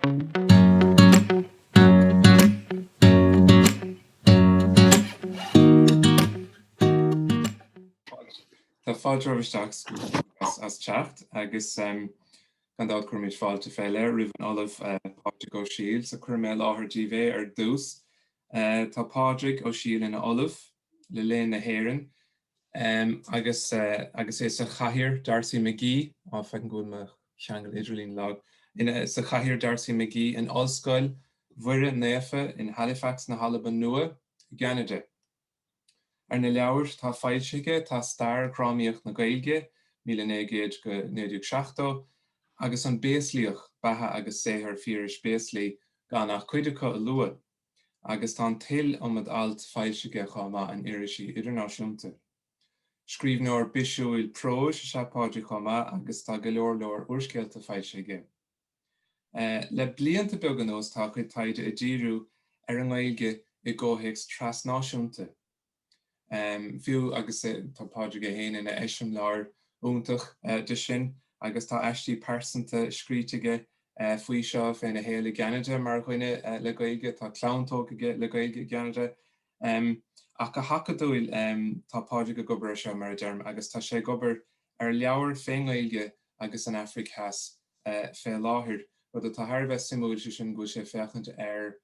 Tá fáilte romhaibh isteach as teacht agus gan dabht cuirimid fáilte féile roimh an Ollamh Pádraig Ó Siadhail. So cuirfidh mé i láthair díbh é ar dtús. Tá Pádraig Ó Siadhail ina Ollamh le Léann na hÉireann Agus agus é sa chathaoir, D'Arcy McGee, á, feicim go bhfuil mo cheangal idirlín lag, ina, sa chathaoir, D'Arcy McGee, in Ollscoil Mhuire Naofa in Halifax na hAlban Nua i gCeanada. Ar na leabhair atá foilsithe aige tá Stair Dhrámaíocht na Gaeilge, Míle Naoi gCéad go 1970, agus An Béaslaíoch, Beatha agus Saothar Phiarais Béaslaí, gan ach cuid acu a lua. agus tá an t-iliomad alt foilsithe chomh maith in irisí idirnáisiúnta. Scríbhneoir bisiúil próis is ea Pádraig chomh maith agus tá go leor leor úrscéalta foilsithe aige. Le blianta beaga anuas tá a chuid taighde ag díriú ar an nGaeilge i gcomhthéacs trasnáisiúnta. fiú agus tá Pádraig é féin ina eiseamláir iontach de sin agus tá aistí pearsanta scríte aige faoi seo, féna shaol i gCeanada mar dhuine le Gaeilge, tá clann tógtha aige le Gaeilge i gCeanada. Ach go hacadúil, tá Pádraig ag obair ar seo, mar a deirim, agus tá sé ag obair ar leabhar fén nGaeilge agus an Afraic Theas fé láthair. Rud atá thar a bheith suimiúil, sé sin go bhfuil sé ag féachaint ar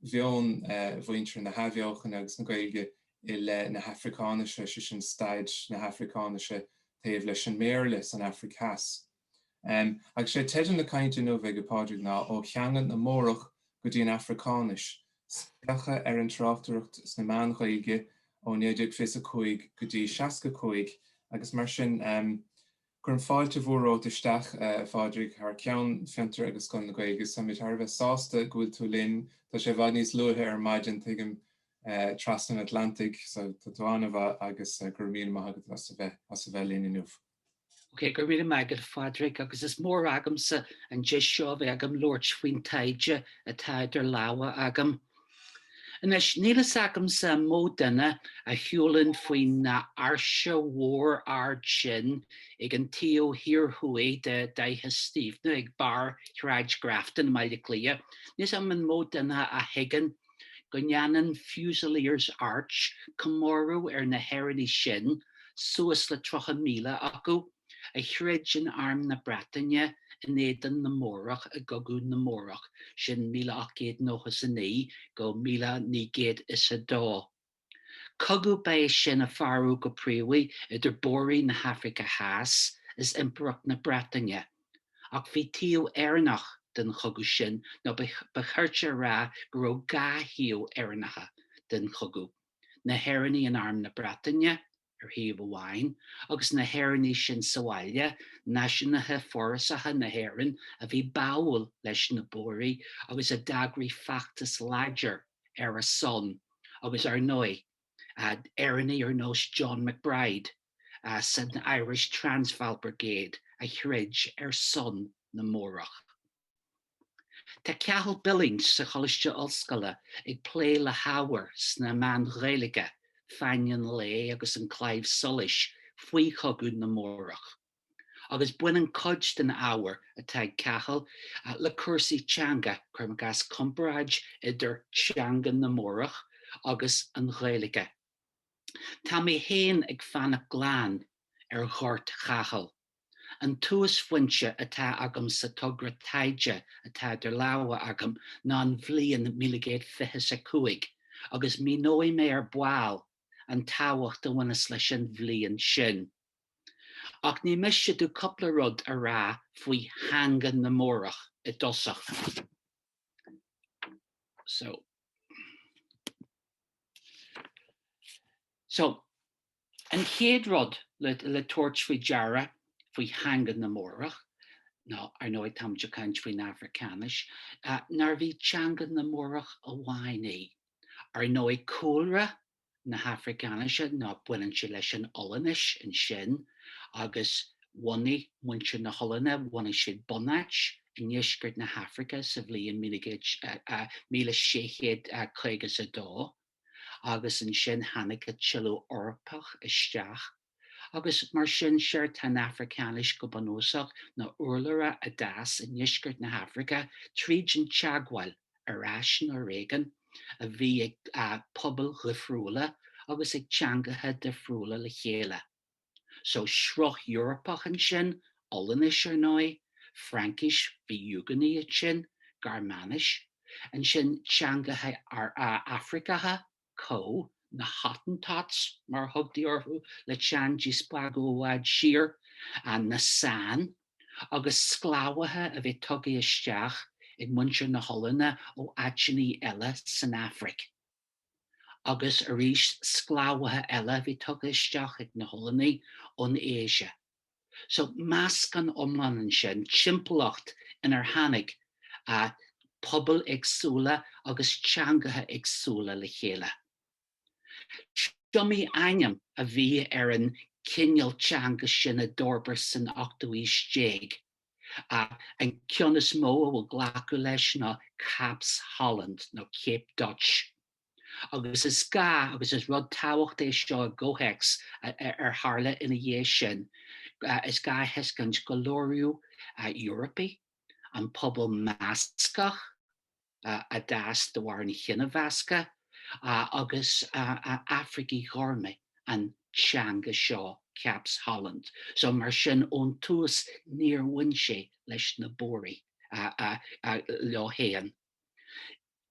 mheon mhuintir na hAthbheochana agus na Gaeilge i leith na hAfricáinise, sé sin staid na hAfricáinise taobh leis an mBéarla san Afraic Theas. Agus sé teideal na cainte inniu ag Pádraig ná Ó Theanga na mBórach go dtí an Afracáinis, spléachadh ar an tráchtaireacht sna meáin Ghaeilge ó 1925 go dtí 65 agus mar sin de. Cuirim fáilte mhór romhat isteach, a Phádraig, thar ceann Fiontar agus Scoil na Gaeilge. Táimid thar a bheith sásta go bhfuil tú linn. Tá sé i bhfad níos luaithe ar maidin, tuigim, trasna an Atlantaigh, so tá tú an-mhaith agus go raibh míle maith agat as a bheith linn inniu. Ok, go raibh míle maith agat, a Phádraig, agus is mór agamsa an deis seo a bheith agam labhairt faoin taighde atá idir lámha agam. Anois, níl fhios agamsa an mó duine a shiúlann faoin áirse mhór ard sin ag an taobh thiar thuaidh de Fhaiche Stiabhna ag barr Shráid Grafton i mBaile Cliath, níl fhios agam an mó duine a thuigeann go ndéanann Fusiliers Arch comóradh ar na hÉireannaigh sin, suas le 30,000 acu, a throid in Arm na Breataine in éadan na mBórach i gCogadh na mBórach, sin 1899-1902. Cogadh ba ea sin a fearadh go príomha idir Bóraigh na hAfraice Theas is Impireacht na Breataine, ach bhí taobh Éireannach den chogadh sin, nó ba chirte a rá go raibh dhá thaobh Éireannacha den chogadh, na hÉireannaigh in Arm na Breataine, ar thaobh amháin, agus na hÉireannaigh sin sa bhaile, náisiúnaithe forásacha na hÉireann a bhí báúil leis na Bóraigh agus a d'eagraigh feachtas láidir ar a son, agus ar ndóigh, Éireannaigh ar nós John MacBride san Irish Transvaal Brigade a throid ar son na mBórach. Tá Cathal Billings sa Choláiste Ollscoile ag plé le hábhar sna meáin Ghaeilge, Fáinne an Lae agus An Claidheamh Soluis faoi chogadh na mBórach, agus baineann cuid den ábhar atá ag Cathal le cúrsaí teanga, cuirim i gcás comparáid idir teanga na mBórach agus an Ghaeilge. Tá mé féin ag fanacht glan ar ghort Chathail. An túsphointe atá agam sa togra taighde atá idir lámha agam ná an bhliain míle naoi gcéad fiche 'is a cúig, agus míneoidh mé ar ball an tábhacht a bhaineas leis an bhliain sin. Ach ní miste dom cupla rud a rá faoi theanga na mBórach i dtosach. So. An chéad rud le tabhairt faoi deara faoi theanga na mBórach, nó ar ndóigh táimid ag caint faoin Afracáinis, ná nárbh í teanga na mBórach amháin í. Ar ndóigh cúlra na hAfracáinise ná baineann sé leis an Ollainnis ansin agus bhunaigh muintir na hOllainne, bhunaigh siad bunáit i ndeisceart na hAfraice sa bhliain míle sé chéad caoga is a dó. agus ansin tháinig a tuilleadh Eorpach isteach, agus mar sin séard tá an Afracáinis go bunúsach ná urlabhra a d'fhás i ndeisceart na hAfraice tríd an teagmháil, ar ais nó ar éigin, a bhí ag pobail dhifriúla agus ag teangacha difriúla le chéile. so sruth Eorpach ansin, Ollainnis, ar ndóigh, Fraincis, bhí Úgónaigh ansin, Gearmáinis, ansin teangacha Afraiceacha, Khoi, na Hottentots mar a thugtaí orthu le teann díspeagadh i bhfad siar, na San, agus sclábhaithe a bhí tugtha isteach ag muintir na hOllainne ó áiteanna eile san Afraic. agus arís sclábhaithe eile a bhí tugtha isteach ag na hOllannaigh ón Asia. So, meascán iomlán ansin, timpeallacht inar tháinig pobail éagsúla agus teangacha éagsúla le chéile. Is iomaí ainm a bhí ar an gcineál teanga sin a d'fhorbair san ochtú haois déag. ach an ceann is mó a bhfuil glacadh leis ná Capes Holland nó Cape Dutch, agus is gá agus is rud tábhachtach é seo i gcomhthéacs ar tharla ina dhiaidh sin, is gá a thuiscint gur labhair Eorpaigh, an pobal measctha, a d'eascair de bharr an chinemheasctha agus Afraicigh ghorma an teanga seo, Capes Holland, so mar sin ón tús níor bhain sé leis na Bóraigh leo fhéin.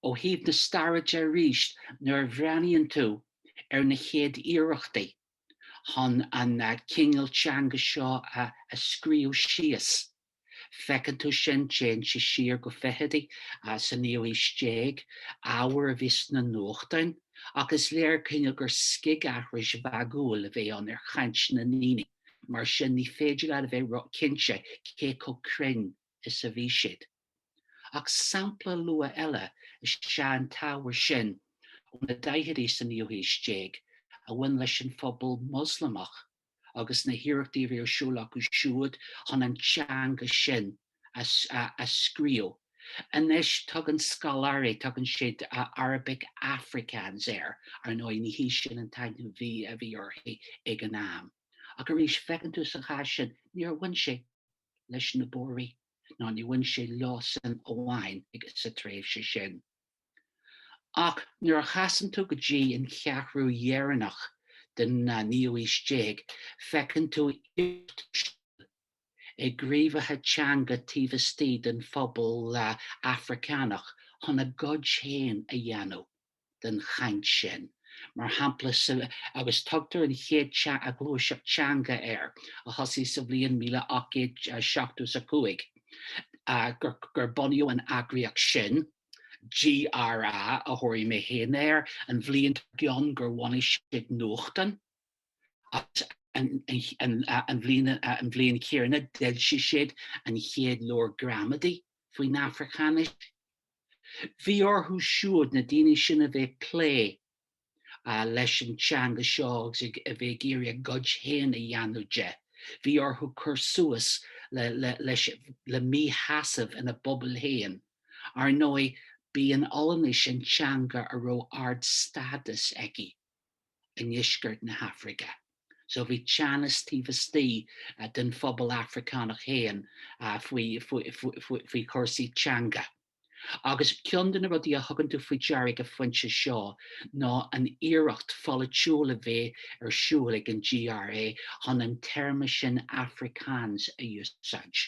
Ó thaobh na staire de arís, nuair a bhreathnaíonn tú ar na chéad iarrachtaí chun an cineál teanga seo a scríobh síos, Feiceann tú sin déanta siar go fichidí sa naoú haois déag, ábhar a bhí sna nuachtáin, ach is léir cineál gur scigaithris mhagúil a bhí ann ar chaint na ndaoine, mar sin ní féidir leat a bheith ró-chinnte cé chomh cruinn is a bhí siad. Ach sampla luath eile is ea an t-ábhar sin ó na daichidí sa naoú haois déag a bhain leis an phobal Moslamach agus na hiarrachtaí a bhí ar siúl acu siúd chun an teanga sin a scríobh. Anois tugann scoláirí, tugann siad Arabic Afrikaans air, ar ndóigh ní hé sin an t-ainm a bhí uirthi ag an am. Ach arís, feiceann tú sa chás sin, níor bhain sé leis na Bóraigh, ná níor bhain sé leosan amháin sa tréimhse sin. Ach nuair a chasann tú go dtí an cheathrú dheireanach den naoú haois déag feiceann tú iarracht ar siúl ag gníomhaithe teanga taobh istigh den phobal Afraiceánach chun a gcuid féin a dhéanamh den chaint sin, mar shampla sa, agus tugtar an chéad ghluaiseacht teanga air, a thosaigh sa bhliain míle ocht gcéad seachtó is a cúig, gur bunaíodh an eagraíocht sin. GRA a thabharfaidh mé féin air, an bhliain dár gcionn gur bhunaigh siad nuachtán agus an bhliain chéanna d'fhoilsigh siad an chéad leabhar gramadaí faoin Afracáinis. Bhí orthu siúd, na daoine sin, a bheith ag plé leis an teanga seo agus a bheith ag iarraidh a gcuid féin a dhéanamh de. Bhí orthu cur suas le míshásamh ina bpobail féin. Ar ndóigh, b'í an Ollainnis an teanga a raibh ardstádas aici i ndeisceart na hAfraice, so bhí teannas taobh istigh den phobal Afracánach féin faoi chúrsaí teanga. Agus ceann de na rudaí a thugann tú faoi deara ag an phointe seo ná an iarracht pholaitiúil a bheith ar siúl ag an GRA chun an téarma sin Afrikaans a úsáid.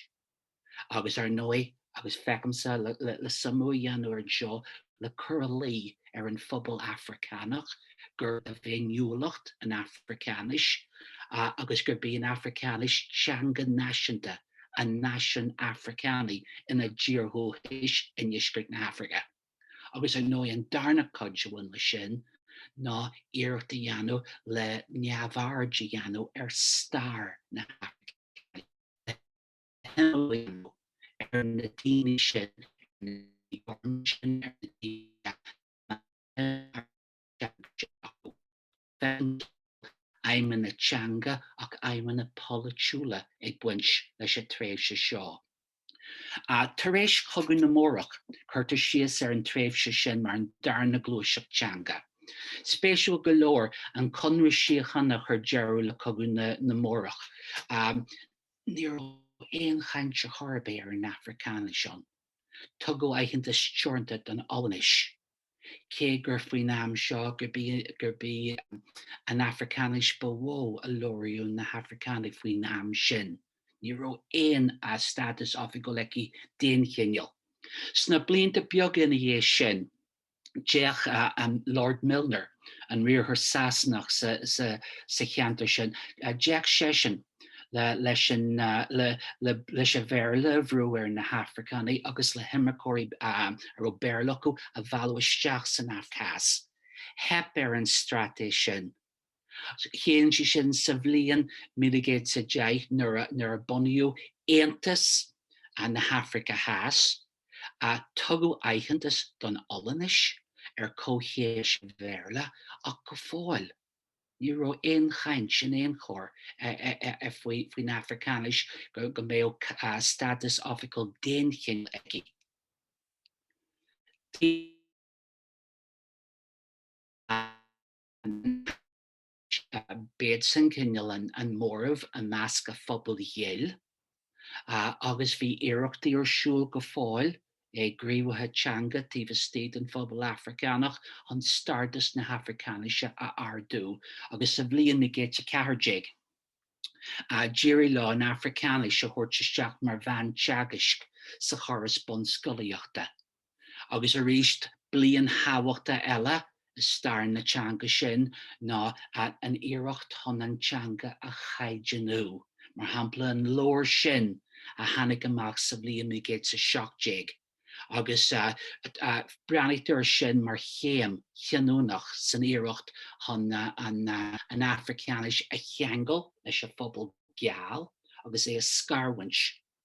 Agus ar ndóigh, agus feicimse le suimiú a dhéanamh anseo le cur a luí ar an phobal Afracánach gurb é a bhféiniúlacht an Afracáinis, agus gurb í an Afracáinis teanga náisiúnta, an náisiúin Afracánaigh ina dtír dhúchais i ndeisceart na hAfraice, agus ar ndóigh an darna cuid a bhain leis sin ná iarracht a dhéanamh le neamhaird a dhéanamh ar stair na hAfraice, le himeallú a dhéanamh ar na daoine sin, ar na daoine gorma sin, ar na daoine a raibh an teanga sin acu. Gan dabht, aidhmeanna teanga ach aidhmeanna polaitiúla ag baint leis an tréimhse seo. Tar éis Chogadh na mBórach, cuirtear síos ar an tréimhse sin mar an darna gluaiseacht teanga. Spéisiúil go leor, an conradh síochána a chuir deireadh le Cogadh na mBórach, ní raibh aon chaint chor ar bith ar an Afracáinis ann. Tugadh aitheantas teoranta don Ollainnis. cé gur faoin am seo gurb í an Afracáinis ba mhó a labhraíodh na hAfracánaigh faoin am sin, ní raibh aon stádas oifigiúil aici d'aon chineál. Sna blianta beaga ina dhiaidh sin, d'fhéach an Lord Milner, an riarthóir Sasanach sa cheantar sin, d'fhéach seisean, leis an Bhéarla a bhrú ar na hAfracánaigh agus le himirceoirí a raibh Béarla acu a mhealladh isteach san Afraic Theas. Theip ar an straitéis sin. Théann sí sin sa bhliain míle naoi gcéad is a deich nuair a bunaíodh Aontas na hAfraice Theas. Tugadh aitheantas don Ollainnis ar comhchéim leis an Bhéarla ach go fóill, Ní raibh aon chaint in aon chor faoin Afracáinis go mbeadh stádas oifigiúil d'aon chineál aici. B'iadsan cineál an móramh i measc an phobail ghil. agus bhí iarrachtaí ar siúl go fóill ag gníomhaithe teanga taobh istigh den phobal Afraiceánach chun stádas na hAfracáinise a ardú, agus sa bhliain 1914 d'éirigh leo an Afraiceáinis a thabhairt isteach mar mheán teagaisc sa chóras bunscolaíochta. agus arís bliain thábhachtach eile i stair na teanga sin ná an iarracht chun an teanga a chaighdeanú, mar shampla an leabhar sin a tháinig amach sa bhliain 1917 agus breathnaítear sin mar chéim chinniúnach san iarracht chun an Afraiceáinis a cheangal leis an phobal geal agus é a scarúint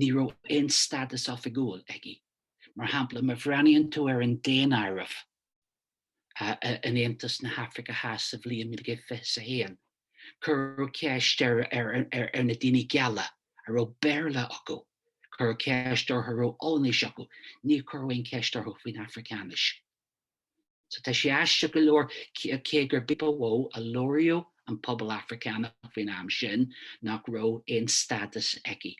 ní raibh aon stádas oifigiúil aici, mar shampla, má bhreathnaíonn tú ar an daonáireamh in Aontas na hAfraice Theas sa bhliain 1921, cuireadh ceist ar na daoine geala a raibh Béarla acu, cuireadh ceist orthu a raibh Ollainnis acu, níor cuireadh aon cheist orthu faoin Afraiceáinis. So tá sé aisteach go leor, cé gurb í ba mhó a labhraíodh an pobal Africánach faoin am sin, nach raibh aon stádas aici.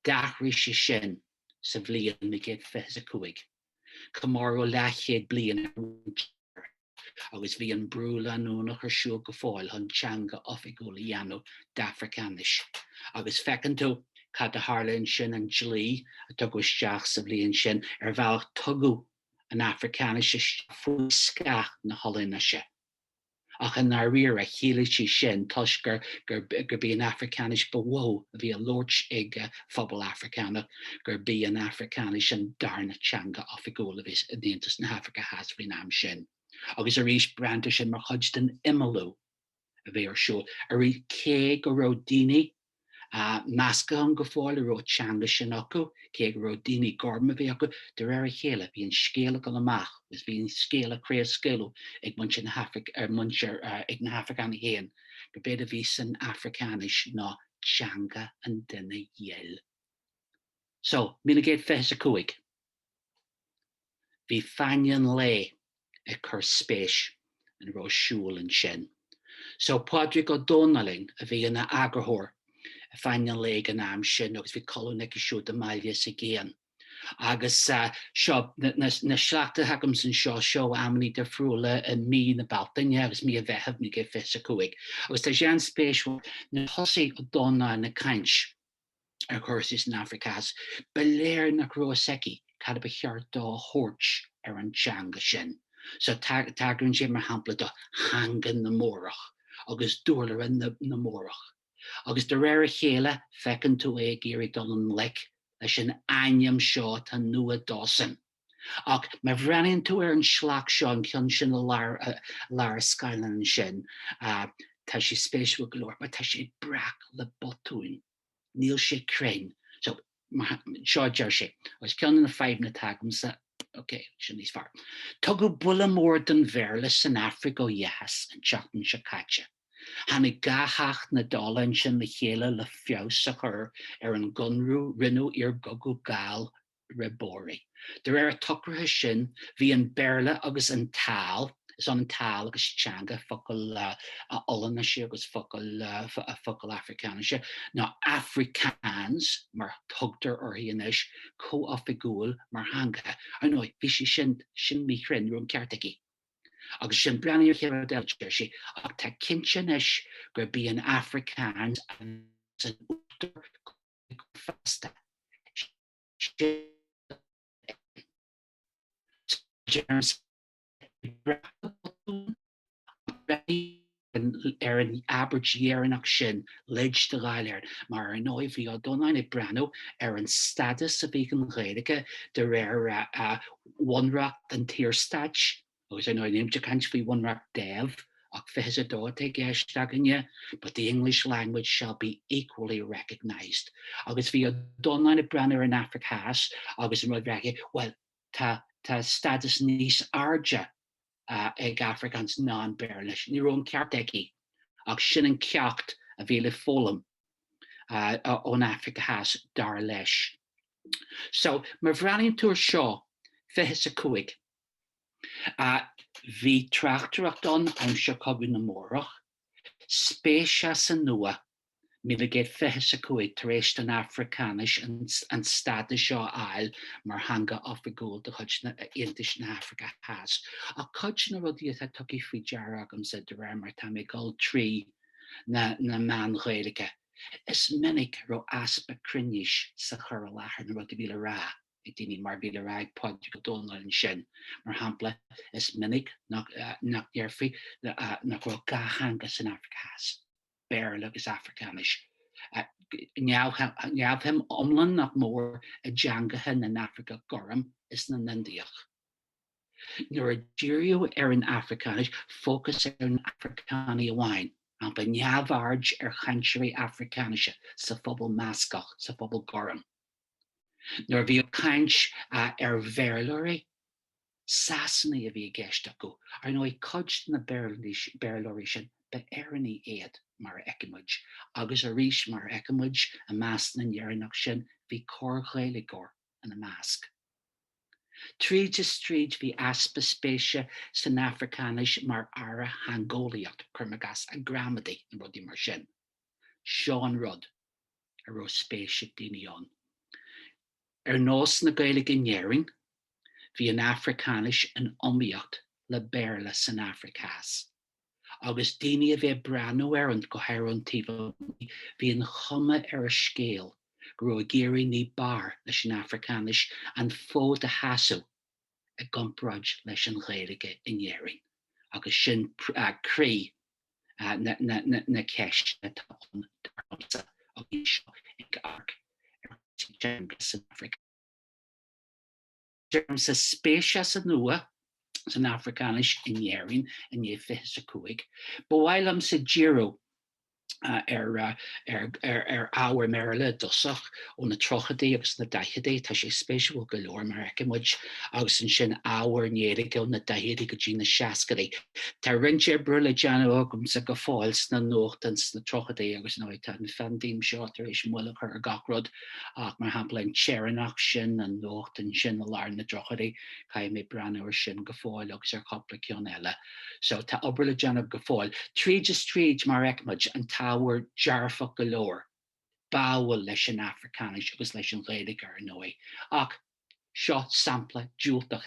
D'athraigh sé sin sa bhliain 1925. Comóradh leathchéad bliain ar agus bhí an brú leanúnach ar siúl go fóill chun teanga oifigiúil a dhéanamh d'Afraiceáinis. Agus feiceann tú cad a tharla ansin, an dlí a tugadh isteach sa bhliain sin, ar bhealach tugadh an Afracáinis isteach faoi scáth na hOllainnise, ach i ndáiríre chiallaigh sé sin toisc gurb í an Afracáinis ba mhó a bhí á labhairt ag an phobal Afracánach gurb í an Afracáinis an darna teanga oifigiúil a bhí in Aontas na hAfraice Theas faoin am sin, agus arís breathnaítear sin mar chuid den imeallú. a bhí ar siúl arís cé go raibh daoine measctha ann go fóill a raibh an teanga sin acu, cé go raibh daoine gorma a raibh sí acu. De réir a chéile bhí an scéal ag dul amach agus bhí an scéal á chraobhscaoileadh ag muintir na hAifric, ag muintir, ag na hAifriceánaigh féin gurbh éard a bhí san Africáinis ná teanga an duine ghil. So, míle naoi gcéad fiche is a cúig. bhí Fáinne an Lae ag cur spéis ina raibh ar siúl ansin so Pádraig Ó Domhnalláin a bhí ina eagarthóir ar Fáinne an Lae ag an am sin agus bhí colún aige siúd i mBaile is i gCéin agus seo na sleachta atá agam anseo seo amannaí difriúla i mí na Bealtaine agus mí an Mheithimh 1925 agus tá sé an-spéisiúil nuair a thosaigh Ó Domhnalláin ag caint ar chúrsaí san Afraic Theas, ba léir nach raibh fhios aige cad ba cheart dó a thabhairt ar an teanga sin. So, tagraíonn sé, mar shampla, do theanga na mBórach agus d'úrlabhra na mBórach. Agus de réir a chéile, feiceann tú é ag iarraidh dul i ngleic leis an ainm seo atá nua dósan. Ach má bhreathnaíonn tú ar an sliocht seo, an ceann sin i lár an scáileáin ansin, tá sé spéisiúil go leor, mar tá sé breac le botúin. Níl sé cruinn. So, seo a deir sé, agus ceann de na fadhbanna atá agamsa, ok, sin níos fearr. Tugadh buille mór don Bhéarla san Afraic ó Dheas an tseachtain seo caite. Tháinig dhá theach na Dála ansin le chéile le feabhas a chur ar an gConradh a rinneadh iar gcogadh Gall re Bóraigh. De réir an tsocraithe sin, bhí an Béarla agus an Taal, is ionann taal agus teanga, focal Ollainnise agus focal Afracáinise, nó Afrikaans mar thugtar uirthi anois, comhoifigiúil mar theangacha. Ar ndóigh, bhí sé sin míchruinn, ní raibh an ceart aige. Agus ansin, breathnaigh céard a deir sé, ach tá cinnte anois gurb í an Afrikaans a bheas in uachtar go go feasta, siad a úsáideann soithí breac le botúin, ach breathnaítear ar an abairt dheireanach sin, leid do Dháil Éireann, mar Ar ndóigh, bhí Ó Domhnalláin ag breathnú ar an stádas a bhí ag an Ghaeilge de réir bhunreacht an tSaorstáit, Agus anois nílimid ag caint faoi Bhunreacht Dev, ach 22 atá i gceist againne, but the English language shall be equally recognised. Agus bhí Ó Domhnalláin ag breathnú ar an Afraic Theas agus an rud a bhí aige, bhuel, tá, tá stádas níos airde ag Afrikaans ná an Béarla. Ní raibh an ceart aige. Ach sin an ceacht a bhí le foghlaim ón Afraic Theas, dar leis. So, má bhreathnaíonn tú ar seo, fiche 's a cúig. Bhí tráchtaireacht ann, aimsir Chogadh na mBórach, spéis as an nua, míle gcéad fiche 's a cúig tar éis don Afracáinis an stádas seo a fháil mar theanga oifigiúil de chuid Aontais na hAfraice Theas. Ach cuid de na rudaí atá tugtha faoi deara agamsa, de réir mar atá mé ag dul trí na meáin Ghaeilge, is minic a raibh easpa cruinnis sa chur i láthair, na rudaí a bhí le rá. ag daoine mar a bhí le rá ag Pádraig Ó Domhnaill ansin, mar shampla, is minic nach ndéarfaí nach raibh dhá theanga san Afraic Theas, Béarla agus Afracáinis, neamhshuim iomlán nach mór i dteangacha na nAfracach gorm is na nIndiach. Nuair a díríodh ar an Afracáinis, fócas ar na Afracánaigh amháin, mar shampla, neamhaird ar chainteoirí Afracáinise sa phobal meascach, sa phobal gorm. Nuair a bhíodh caint ar Bhéarlóirí, Sasanaigh a bhí i gceist acu. Ar ndóigh, cuid de na Béarlóirí sin, ba Éireannaigh iad, mar a fheicfidh muid. Agus arís, mar a fheicfidh muid, i measc na nÉireannach sin, bhí corr-Ghaeilgeoir ina measc. Tríd is tríd, bhí easpa spéise san Afracáinis mar earra theangeolaíochta, cuirim i gcás, gramadaí nó rudaí mar sin. Seo an rud. a raibh spéis ag daoine ann. Ar nós na Gaeilge in Éirinn, bhí an Afracáinis in iomaíocht le Béarla san Afraic Theas, agus daoine a bhí ag breathnú air, ón, go háirithe ón taobh amuigh, bhí an chuma ar an scéal go raibh ag éirí ní b'fhearr leis an Afracáinis an fód a sheasamh i gcomparáid leis an Ghaeilge in Éirinn, agus sin croí na ceisteanna atá ann dar liomsa agus mise ag amharc ar chúrsaí teanga san Afraic Theas. Deirimse spéis as an nua san Afracáinis in Éirinn i ndiaidh fiche is a cúig. Ba mhaith liomsa díriú ar ábhar i mBéarla i dtosach. ó na tríochaidí agus na daichidí. Tá sé spéisiúil go leor, mar a fheicfidh muid, agus ansin ábhar i nGaeilge ó na daichidí go dtí na seascaidí. Tá roinnt oibre le déanamh agamsa go fóill sna nuachtáin sna tríochaidí agus anyway, tá an phaindéim seo tar éis moill a chur ar gach rud ach mar shampla an tÉireannach sin, an nuachtán sin i lár na dtríochaidí, caithfidh mé breathnú ar sin go fóill agus ar chúpla ceann eile. So, tá obair le déanamh go fóill. Tríd is tríd, mar a fheicfidh muid, an t-ábhar dearfach go leor. Báúil leis an Afracáinis agus leis an Ghaeilge, ar ndóigh, ach seo sampla diúltach.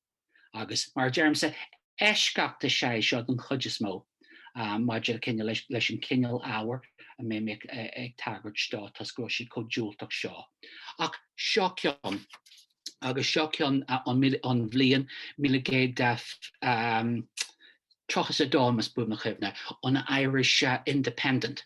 Agus, mar a deirimse, eisceacht is ea é seo den chuid is mó maidir leis an gcineál ábhair a mbeidh mé ag tagairt dó toisc go bhfuil sé chomh diúltach seo. Ach seo ceann. Agus seo ceann ón bhliain míle naoi gcéad tríocha is a dó, más buan mo chuimhne, ón Irish Independent.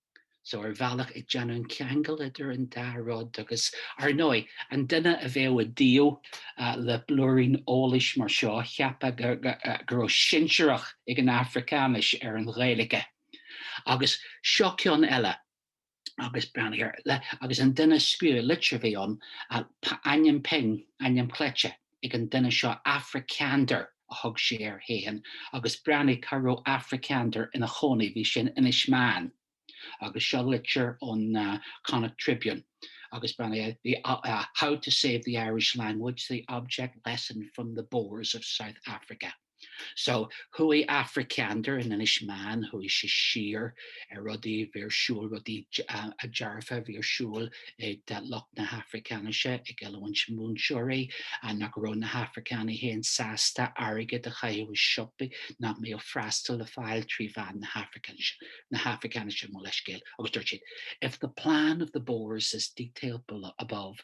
So ar bhealach ag déanamh an cheangail idir an dá rud agus, ar ndóigh, an duine a bheadh i dtaobh le blúirín eolais mar seo cheapfadh go raibh sinsearacht ag an Afracáinis ar an Ghaeilge. Agus seo ceann eile, agus breathnaigh air, le, agus an duine a scríobh an litir a bhí ann, ainm pinn, ainm cleite, ag an duine seo Africander a thug sé air fhéin agus breathnaigh cá raibh Africander ina chónaí, bhí sé in Inis Meáin agus seo litir ón Connacht Tribune agus breathnaigh eh how to save the Irish language, the object lesson from the Boers of South Africa. So chuaigh Africander in Inis Meáin chuaigh sé siar ar rudaí a bhí ar siúl, rudaí dearfa a bhí ar siúl ag lucht na hAfracáinise, ag oiliúint múinteoirí nach raibh na hAfracánaigh féin sásta airgead a chaitheamh i siopaí nach mbíodh freastal le fáil trí mheán na hAfracáinise, na hAfracáinise, mo leithscéal, agus dúirt siad, If the plan of the Boers as detailed below, above,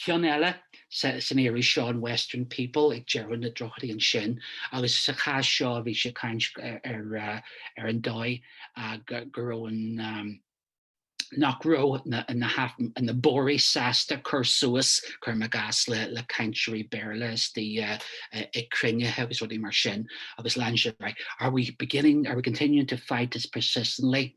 Ceann eile san iris seo, an Western People, ag deireadh na dtríochaidí ansin, agus sa chás seo bhí sé ag caint ar an dóigh go raibh an, nach raibh na Bóraigh sásta cur suas, cuirim i gcás, le cainteoirí Béarla istigh ag cruinnithe agus rudaí mar sin, agus lean sé ar aghaidh, Are we beginning, are we continuing to fight as persistently?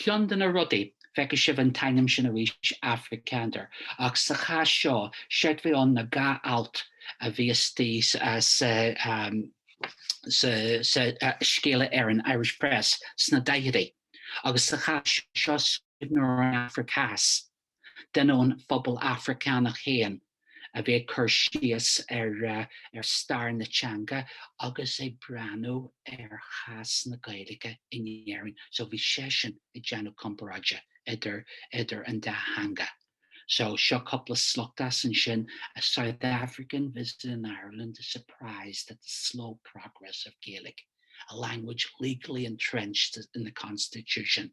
Ceann de na rudaí, feicfidh sibh an t-ainm sin arís, Africander, ach sa chás seo, séard a bhí ann ná gur alt a bhí istigh sa Scéala Éireann Irish Press sna daichidí, agus sa chás seo, scríbhneoir ón Afraic Theas. duine den phobal Afracánach féin a bhí ag cur síos ar stair na teanga agus ag breathnú ar chás na Gaeilge in Éirinn. So bhí seisean ag déanamh comparáide idir, idir an dá theanga. So seo cúpla sliocht as ansin, A South African visiting Ireland is surprised at the slow progress of Gaelic, a language legally entrenched in the constitution.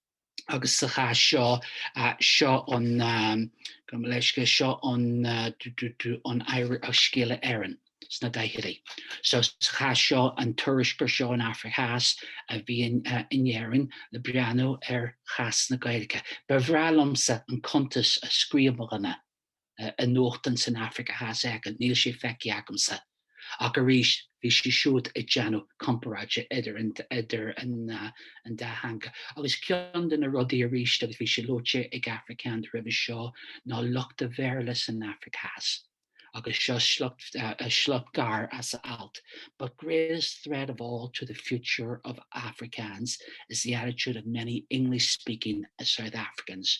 agus sa chás seo, seo an, gabh mo leithscéal, seo an, an Scéala Éireann sna daichidí. So sa chás seo an tuairisceoir seo ón Afraic Theas a bhí in Éirinn le breathnú ar chás na Gaeilge. Ba bhreá liomsa an cuntas a scríobh mo dhuine i nuachtán san Afraic Theas éigin, níl sé feicthe agamsa, ach arís bhí sé siúd ag déanamh comparáide idir an dá theanga. Agus ceann de na rudaí arís, agus bhí sé luaite ag Afrikaans roimhe seo, ná lucht a' Bhéarla san Afraic Theas. Agus seo sliocht gearr as a alt, But greatest threat of all to the future of Afrikaans is the attitude of many English-speaking South Africans,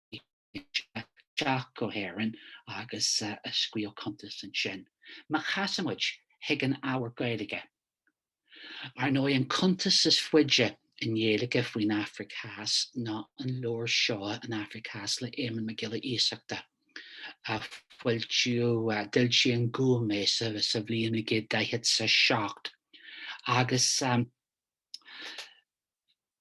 isteach go hÉirinn agus a scríobh cuntas ansin. Má chasann muid chuig an ábhar Gaeilge, Ar ndóigh, an cuntas is faide i nGaeilge faoin Afraic Theas ná an leabhar seo An Afraic Theas le Éamonn Mac Giolla Iasachta, a foilsíodh, d'fhoilsigh An Gúm é sa bhliain 1947, agus.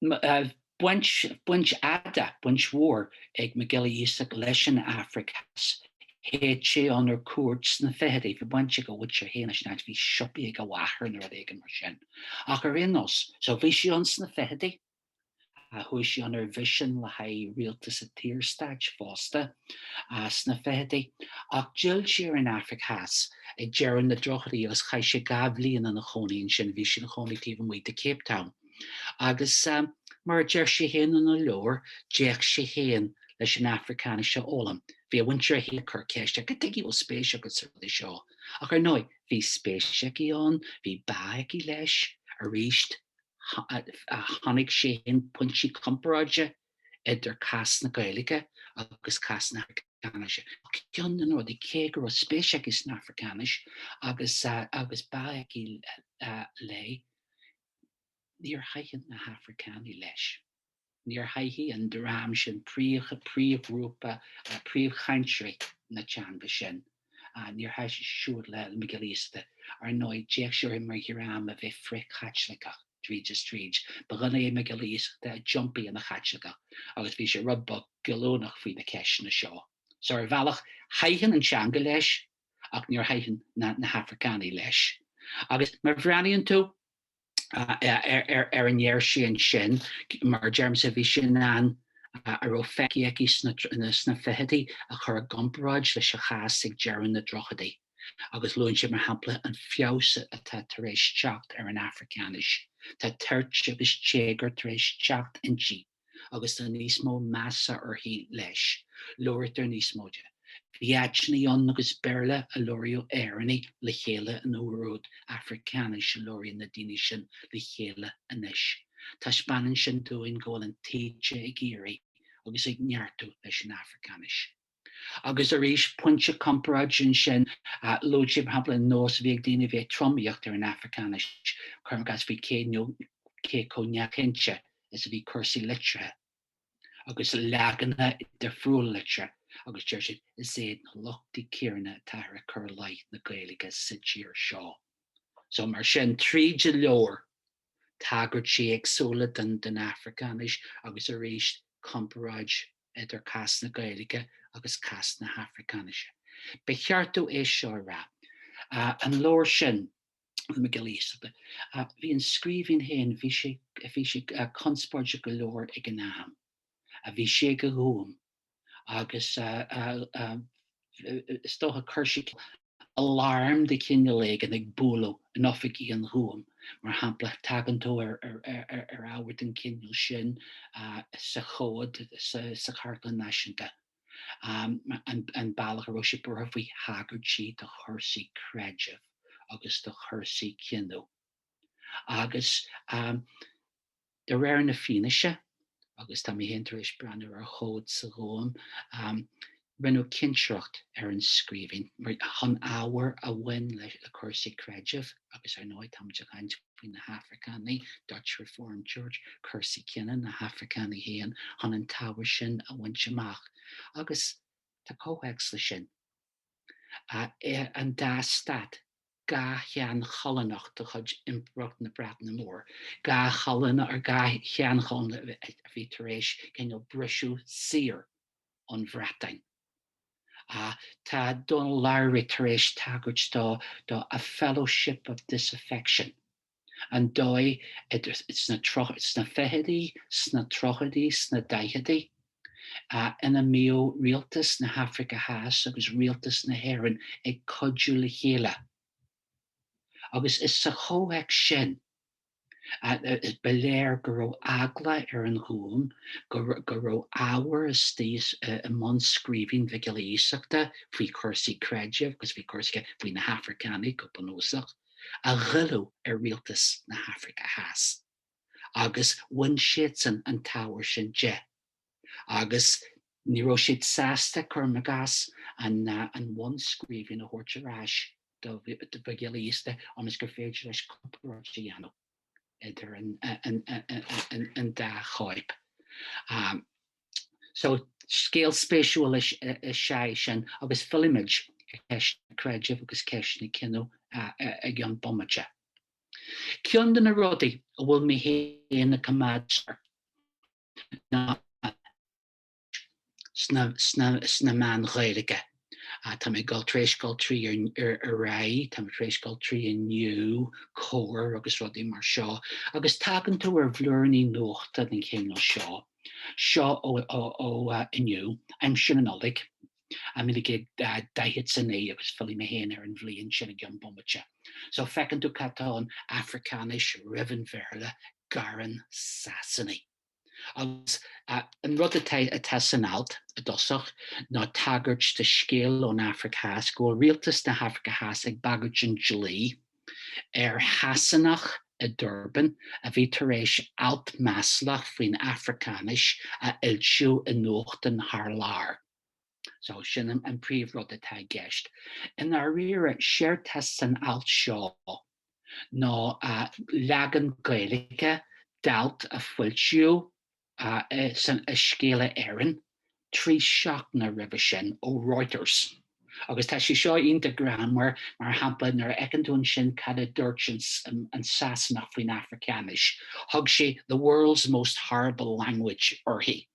baint fhada, baint mhór ag Mac Giolla Iasachta leis an Afraic Theas. Théadh sé ann ar cuairt sna ficheadaí, bhí baint ag a mhuintir féin leis an áit, bhí siopaí ag a mháthair nó rud éigin mar sin. Ach ar aon nós, so bhí sé ann sna ficheadaí, chuaigh sé ann ar mhisean le haghaidh rialtas an tSaorstáit fosta sna ficheadaí. Ach d'fhill sé ar an Afraic Theas ag deireadh na dtríochaidí agus chaith sé dhá bhliain ina chónaí ansin, bhí sé ina chónaí taobh amuigh de Cape Town. Agus mar a deir sé féin ina leabhar, d'fhéach sé féin leis an Afracáinis a fhoghlaim. Bhí a mhuintir féin ag cur ceiste air, Cad chuige a bhfuil spéis agat sa rud seo? Ach ar ndóigh, bhí spéis aige ann, bhí bá aige leis, arís, chonaic sé féin pointí comparáide idir cás na Gaeilge agus cás na hAfracáinise. Ceann de na rudaí, cé go raibh spéis aige san Afracáinis agus bá aige léi, Níor thaitin na hAfracánaigh leis. Níor thaitin an dream sin príomhghrúpa príomhchainteoirí na teanga sin. Níor thaitin siúd le Mac Giolla Iasachta. Ar ndóigh, d'fhéach sé orthu mar dhream a bhí frith-Chaitliceach tríd is tríd. Ba dhuine é Mac Giolla Iasachta a d'iompaigh ina Chaitliceach agus bhí sé rud beag goilliúnach faoi na ceisteanna seo. So, ar bhealach, thaitin an teanga leis. ach níor thaitin na hAfracánaigh leis. Agus má bhreathnaíonn tú ar a ndeir sé ansin, mar a deirimse, bhí sé in ann a raibh feicthe aige sna fichidí a chur i gcomparáid leis an chás ag deireadh na dtríochaidí, agus luann sé mar shampla an feabhas atá tar éis teacht ar an Afracáinis, tá toirt agus téagar tar éis teacht inti. agus tá níos mó measa uirthi leis, labhraítear níos mó di. Bhí áiteanna ann agus Béarla a labhraíodh Éireannaigh le chéile an uair úd, Afracáinis a labhraíonn na daoine sin le chéile anois. Taispeánann sin dúinn go bhfuil an taoide ag éirí agus ag neartú leis an Afracáinis. Agus arís, pointe comparáid ansin a luaigh sé, mar shampla, an nós a bhí ag daoine a bhí ag tromaíocht ar an Afracáinis, cuirim i gcás, faoi cé nó cé chomh neamhchinnte is a bhí cúrsaí litrithe, agus leaganacha difriúla litrithe, agus deir sé, is iad na lochtaí céanna atáthar ag cur i leith na Gaeilge sa tír seo. So, mar sin, tríd an leabhar, tagairtí éagsúla don Afracáinis, agus arís, comparáid idir cás na Gaeilge agus cás na hAfracáinise. Ba cheart dom é seo a rá, an leabhar sin, le Mac Giolla Iasachta, bhí an scríbhinn féin, bhí sé, bhí sé conspóideach go leor ag an am, bhí sé ag an Ghúm agus is dócha chuir sé, aláram de chineál éigin ag bualadh in oifigí an Ghúim, mar shampla, tagann tú ar ábhar den chineál sin sa chomhad sa Chartlann Náisiúnta, an bealach a raibh sé buartha faoi thagairtí do chúrsaí creidimh agus do chúrsaí cine. Agus De réir na fianaise, agus tá mé féin tar éis breathnú ar chomhad sa Ghúm, rinneadh cinsireacht ar an scríbhinn chun ábhar a bhain le cúrsaí creidimh, agus ar ndóigh táimid ag caint faoi na hAfracánaigh, Dutch Reformed Church, cúrsaí cine, na hAfracánaigh féin, chun an t-ábhar sin a bhaint amach. Agus tá comhthéacs leis sin. ar an dá stát, dhá sheanchoilíneacht de chuid Impireacht na Breataine Móire, dhá, ar dhá sheanchoilín a bhí tar éis cineál briseadh saor ón Bhreatain. Tá Donal Lowry tar éis tagairt dó do 'a fellowship of disaffection'. an dóigh sna fichidí, sna tríochaidí, sna daichidí ina mbíodh rialtas na hAfraice Theas agus rialtas na hÉireann ag cuidiú le chéile. Agus is sa chomhthéacs sin ba léir go raibh eagla ar an Ghúm go raibh ábhar istigh i mbunscríbhinn Mhic Giolla Iasachta faoi chúrsaí creidimh agus faoi chúrsaí faoi na hAfracánaigh go bunúsach. a ghoillfeadh ar rialtas na hAfraice Theas, agus bhain siadsan an t-ábhar sin de, agus ní raibh siad sásta cuirim i gcás an bhunscríbhinn a thabhairt ar ais do Mhac Giolla Iasachta ionas gur féidir leis comparáid a dhéanamh. idir an dá chóip. So, scéal spéisiúil is ea é sin agus fillfimid ar cheisteanna creidimh agus ceisteanna cine i gceann bomaite. Ceann de na rudaí a bhfuil mé féin ag coimhéad air ná an. sna meáin Ghaeilge. Tá mé ag dul, tar éis gabháil trí Ar Aghaidh, tá mé tar éis gabháil trí Inniu, Comhar agus rudaí mar seo, agus tagann tú ar bhlúiríní nuachta den chineál seo, seo ó Inniu, aimsir na Nollag, 1949 agus fillfidh mé féin ar an bhliain sin i gceann bomaite. So feiceann tú cad tá ann, Africáinis roimh an Bhéarla, Gearán Sasanaigh. Agus an rud atá san alt i dtosach ná tagairt do scéal ón Afraic Theas, go bhfuil rialtas na hAfraice Theas ag bagairt an dlí ar Shasanach i Durban a bhí tar éis alt maslach faoin Afracáinis a fhoilsiú i nuachtán thar lear. So, sin an príomh rud atá i gceist. I ndáiríre, séard tá san alt seo ná leagan Gaeilge d'alt a foilsíodh i Scéala Éireann trí seachtaine roimhe sin ó Reuters. Agus tá sé seo iontach greannmhar, mar shampla, nuair a fheiceann tú ansin cad a dúirt an Sasanach faoin Afracáinis, thug sé the world's most horrible language uirthi.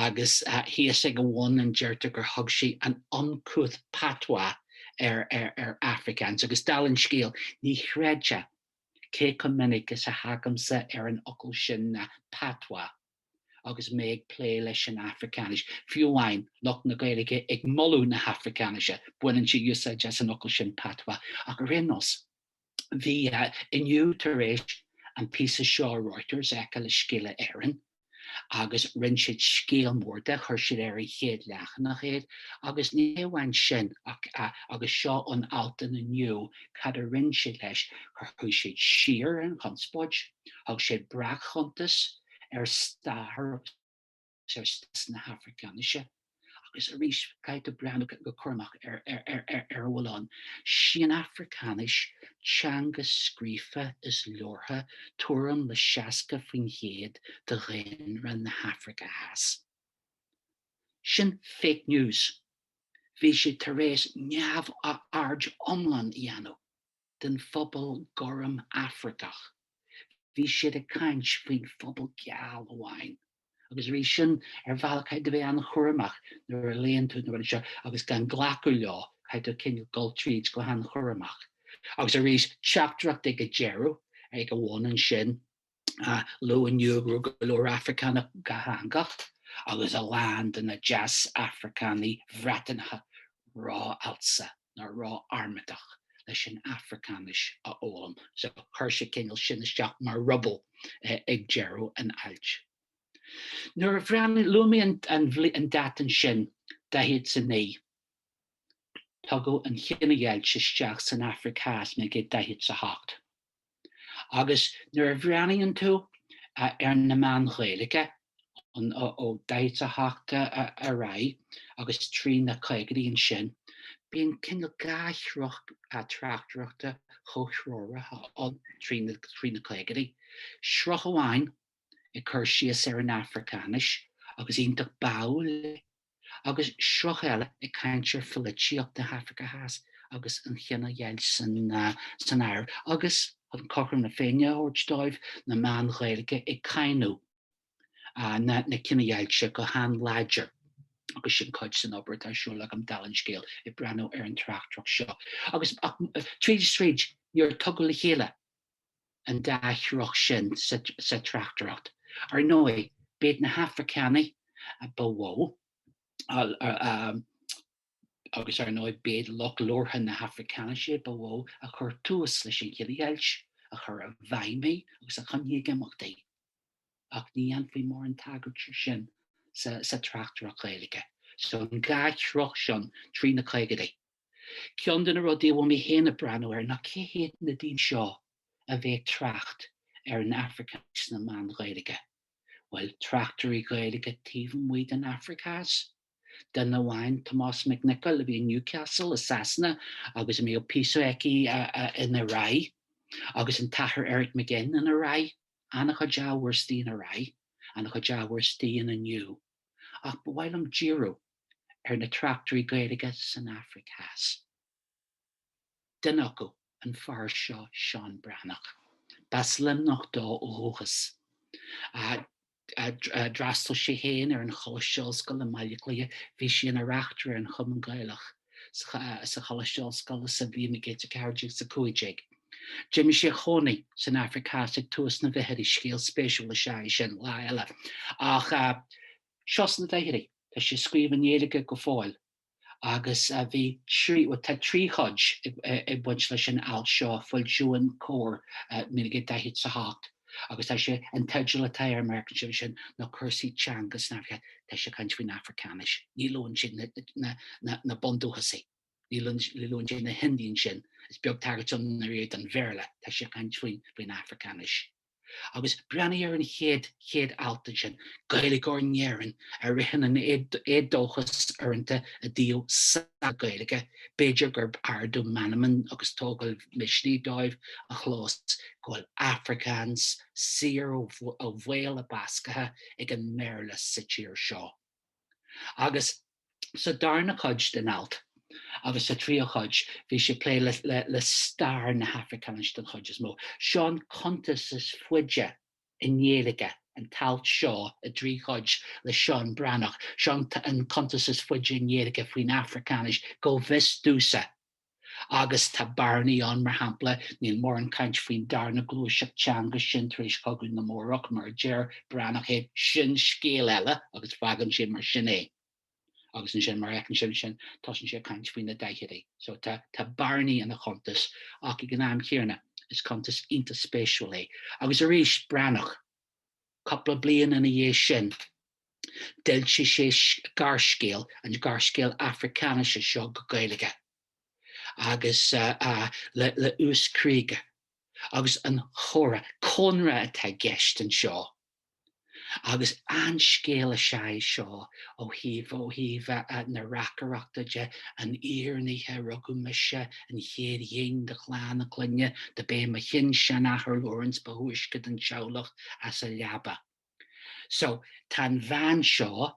agus thíos ag a bhun an deirtear gur thug sé an uncouth patois ar Afrikaans, agus dala an scéil ní chreidfeá cé chomh minic is a thagaimse ar an fhocal sin na patois agus mé ag plé leis an Afracáinis, fiú amháin lucht na Gaeilge ag moladh na hAfricáinise, baineann siad úsáid as an fhocal sin patois, ach ar aon nós. Bhí Inniu tar éis an píosa seo ó Reuters a fheiceáil i Scéala Éireann agus rinne siad scéal mór de, chuir siad ar an chéad leathanach é agus ní hamháin sin ach agus seo ón alt in Inniu cad a rinne siad leis, chuir, chuaigh siad siar ar an chonspóid, thug siad breac-chuntas ar stair agus. Stádas na hAfraiceáinise, agus arís caithfidh tú breathnú go cúramach ar a bhfuil ann. Sí an Afraiceáinis teanga scríofa is labhartha tuairim le 60% de dhaonra na hAfraice Theas. Sin fake news. Bhí siad tar éis neamhaird iomlán a dhéanamh den phobal gorm Afracach. Bhí siad ag caint faoin phobal geal amháin. agus arís sin, ar bhealach caithfidh tú a bheith an-chúramach nuair a léann tú na rudaí seo agus gan glacadh leo, caithfidh tú cineál dul tríd go han-chúramach. Agus arís, teachtaireacht ag an deireadh, ag an bhun ansin, luaigh Inniu go raibh go leor Afracánach dátheangach, agus a lán de na Deas-Afracánaigh Bhreatanacha ró-fhalsa. ná rá armatach leis an Afracáinis a fhoghlaim so chuir sé cineál sin isteach mar ruball ag deireadh an ailt. Nuair a bhreathnaigh, luaigh mé an an dáta ansin, daichead 's a naoi. Tugadh an chinedheighilt isteach san Afraic Theas naoi gcéad daichead 's a hocht. Agus nuair a bhreathnaíonn tú ar na meáin Ghaeilge, ó daichead a hocht ar aghaidh agus trí na caogaidí ansin, bíonn cineál dhá shruth tráchtaireachta chomhthreomhara ann trí na caogaidí, sruth amháin ag cur síos ar an Afracáinis, agus iontach báúil léi, agus sruth eile ag caint ar pholaitíocht na hAfraice Theas agus an chinedheighilt san áireamh, agus, chun cothrom na féinne a thabhairt dóibh, na meáin Ghaeilge ag cáineadh na cinedheighilte go han-láidir. Agus sin cuid den obair atá ar siúl agam, dála an scéil, ag breathnú ar an tráchtaireacht seo. Agus, ach, tríd is tríd, níor tugadh le chéile. an dá shruth sin sa tráchtaireacht. Ar ndóigh, b'iad na hAfracánaigh ba mhó, agus ar ndóigh b'iad lucht labhartha na hAfracáinise ba mhó a chuir tús leis an gcinedheighilt, a chuir i bhfeidhm í agus a choinnigh ag imeacht í. Ach ní dhéanfaí mórán tagairt air sin sa tráchtaireacht Ghaeilge, so an dá shruth sin, trí na caogaidí. Ceann de na rudaí a bhfuil mé féin ag breathnú air ná cé hiad na daoine seo a bhíodh ag trácht ar an Afraic sna meáin Ghaeilge? Bhuel, tráchtairí Gaeilge taobh amuigh den Afraic Theas? Duine amháin, Tomás Mac Niocaill, a bhí i Newcastle i Sasana agus a mbíodh píosa aige in Ar Aghaidh, agus an tAthair Eric Mac Fhinn in Ar Aghaidh, an-chuid ábhar aistí in Ar Aghaidh, an-chuid ábhar aistí in Inniu. ach ba mhaith liom díriú ar na tráchtairí Gaeilge san Afraic Theas. Duine acu, an fear seo Seán Breathnach. B'as Luimneach dó ó dhúchas. D'fhreastail sé féin ar an Choláiste Ollscoile i mBaile Átha Cliath, bhí sé ina reachtaire ar an Chumann Gaelach, sa Choláiste Ollscoile sa bhliain 1914-15. D'imigh sé a chónaí san Afraic Theas ag tús na bhfichidí, scéal spéisiúil is ea é sin, lá eile, ach seo sna daichidí tá sé ag scríobh i nGaeilge go fóill agus bhí trí, bhuel tá trí chuid ag baint leis an alt seo, foilsíodh in Comhar, 1948. agus tá sé, an teideal atá air, mar a fheiceann sibh ansin, ná cúrsaí teanga san Afraic, tá sé ag caint faoin Afracáinis, ní luann sé na bundúchasaigh, ní luann sé na hIndiaigh ansin, is beag tagairt ann ariamh don Bhéarla, tá sé ag caint faoin Afracáinis. Agus breathnaigh ar an chéad, chéad alt ansin, Gaeilgeoir in Éirinn a ritheann in éadóchas uaireanta i dtaobh na Gaeilge, b'fhéidir gur ardú meanman agus tógáil misnigh dóibh a chlós go bhfuil Afrikaans saor ó bhaol a basctha ag an mBéarla sa tír seo. Agus sa darna cuid den alt, agus sa tríú cuid, bhí sé ag plé le stair na hAfricáinise den chuid is mó. Seo an cuntas is faide i nGaeilge, an t-alt seo i dtrí chuid le Seán Breathnach, seo an cuntas is faide i nGaeilge faoin Afracáinis, go bhfios domhsa, agus tá bearnaí ann, mar shampla, níl mórán caint faoin darna gluaiseacht teanga sin tar éis Chogadh na mBórach, mar a deir Breathnach é, sin scéal eile, agus fágann sé mar sin é. Agus ansin, mar a fheiceann sibh ansin, tosaíonn sé ag caint faoi na daichidí. So tá bearnaí ina chuntas ach ag an am chéanna, is cuntas iontach spéisiúil é. Agus arís, Breathnach, cúpla bliain ina dhiaidh sin, d'fhoilsigh sé gearrscéal, an gearrscéal Afracáinise seo go Gaeilge, agus le Uys Krige. Agus An Chomhra, cónra atá i gceist anseo. Agus an-scéal is ea é seo ó thaobh, ó thaobh na reacaireachta de, an fhírinne, rugadh mise, an chéad ghin de chlann a clainne, do b'é mo shin-seanathair Lawrence ba thúisce den teaghlach as a leaba. So, tá an bhean seo,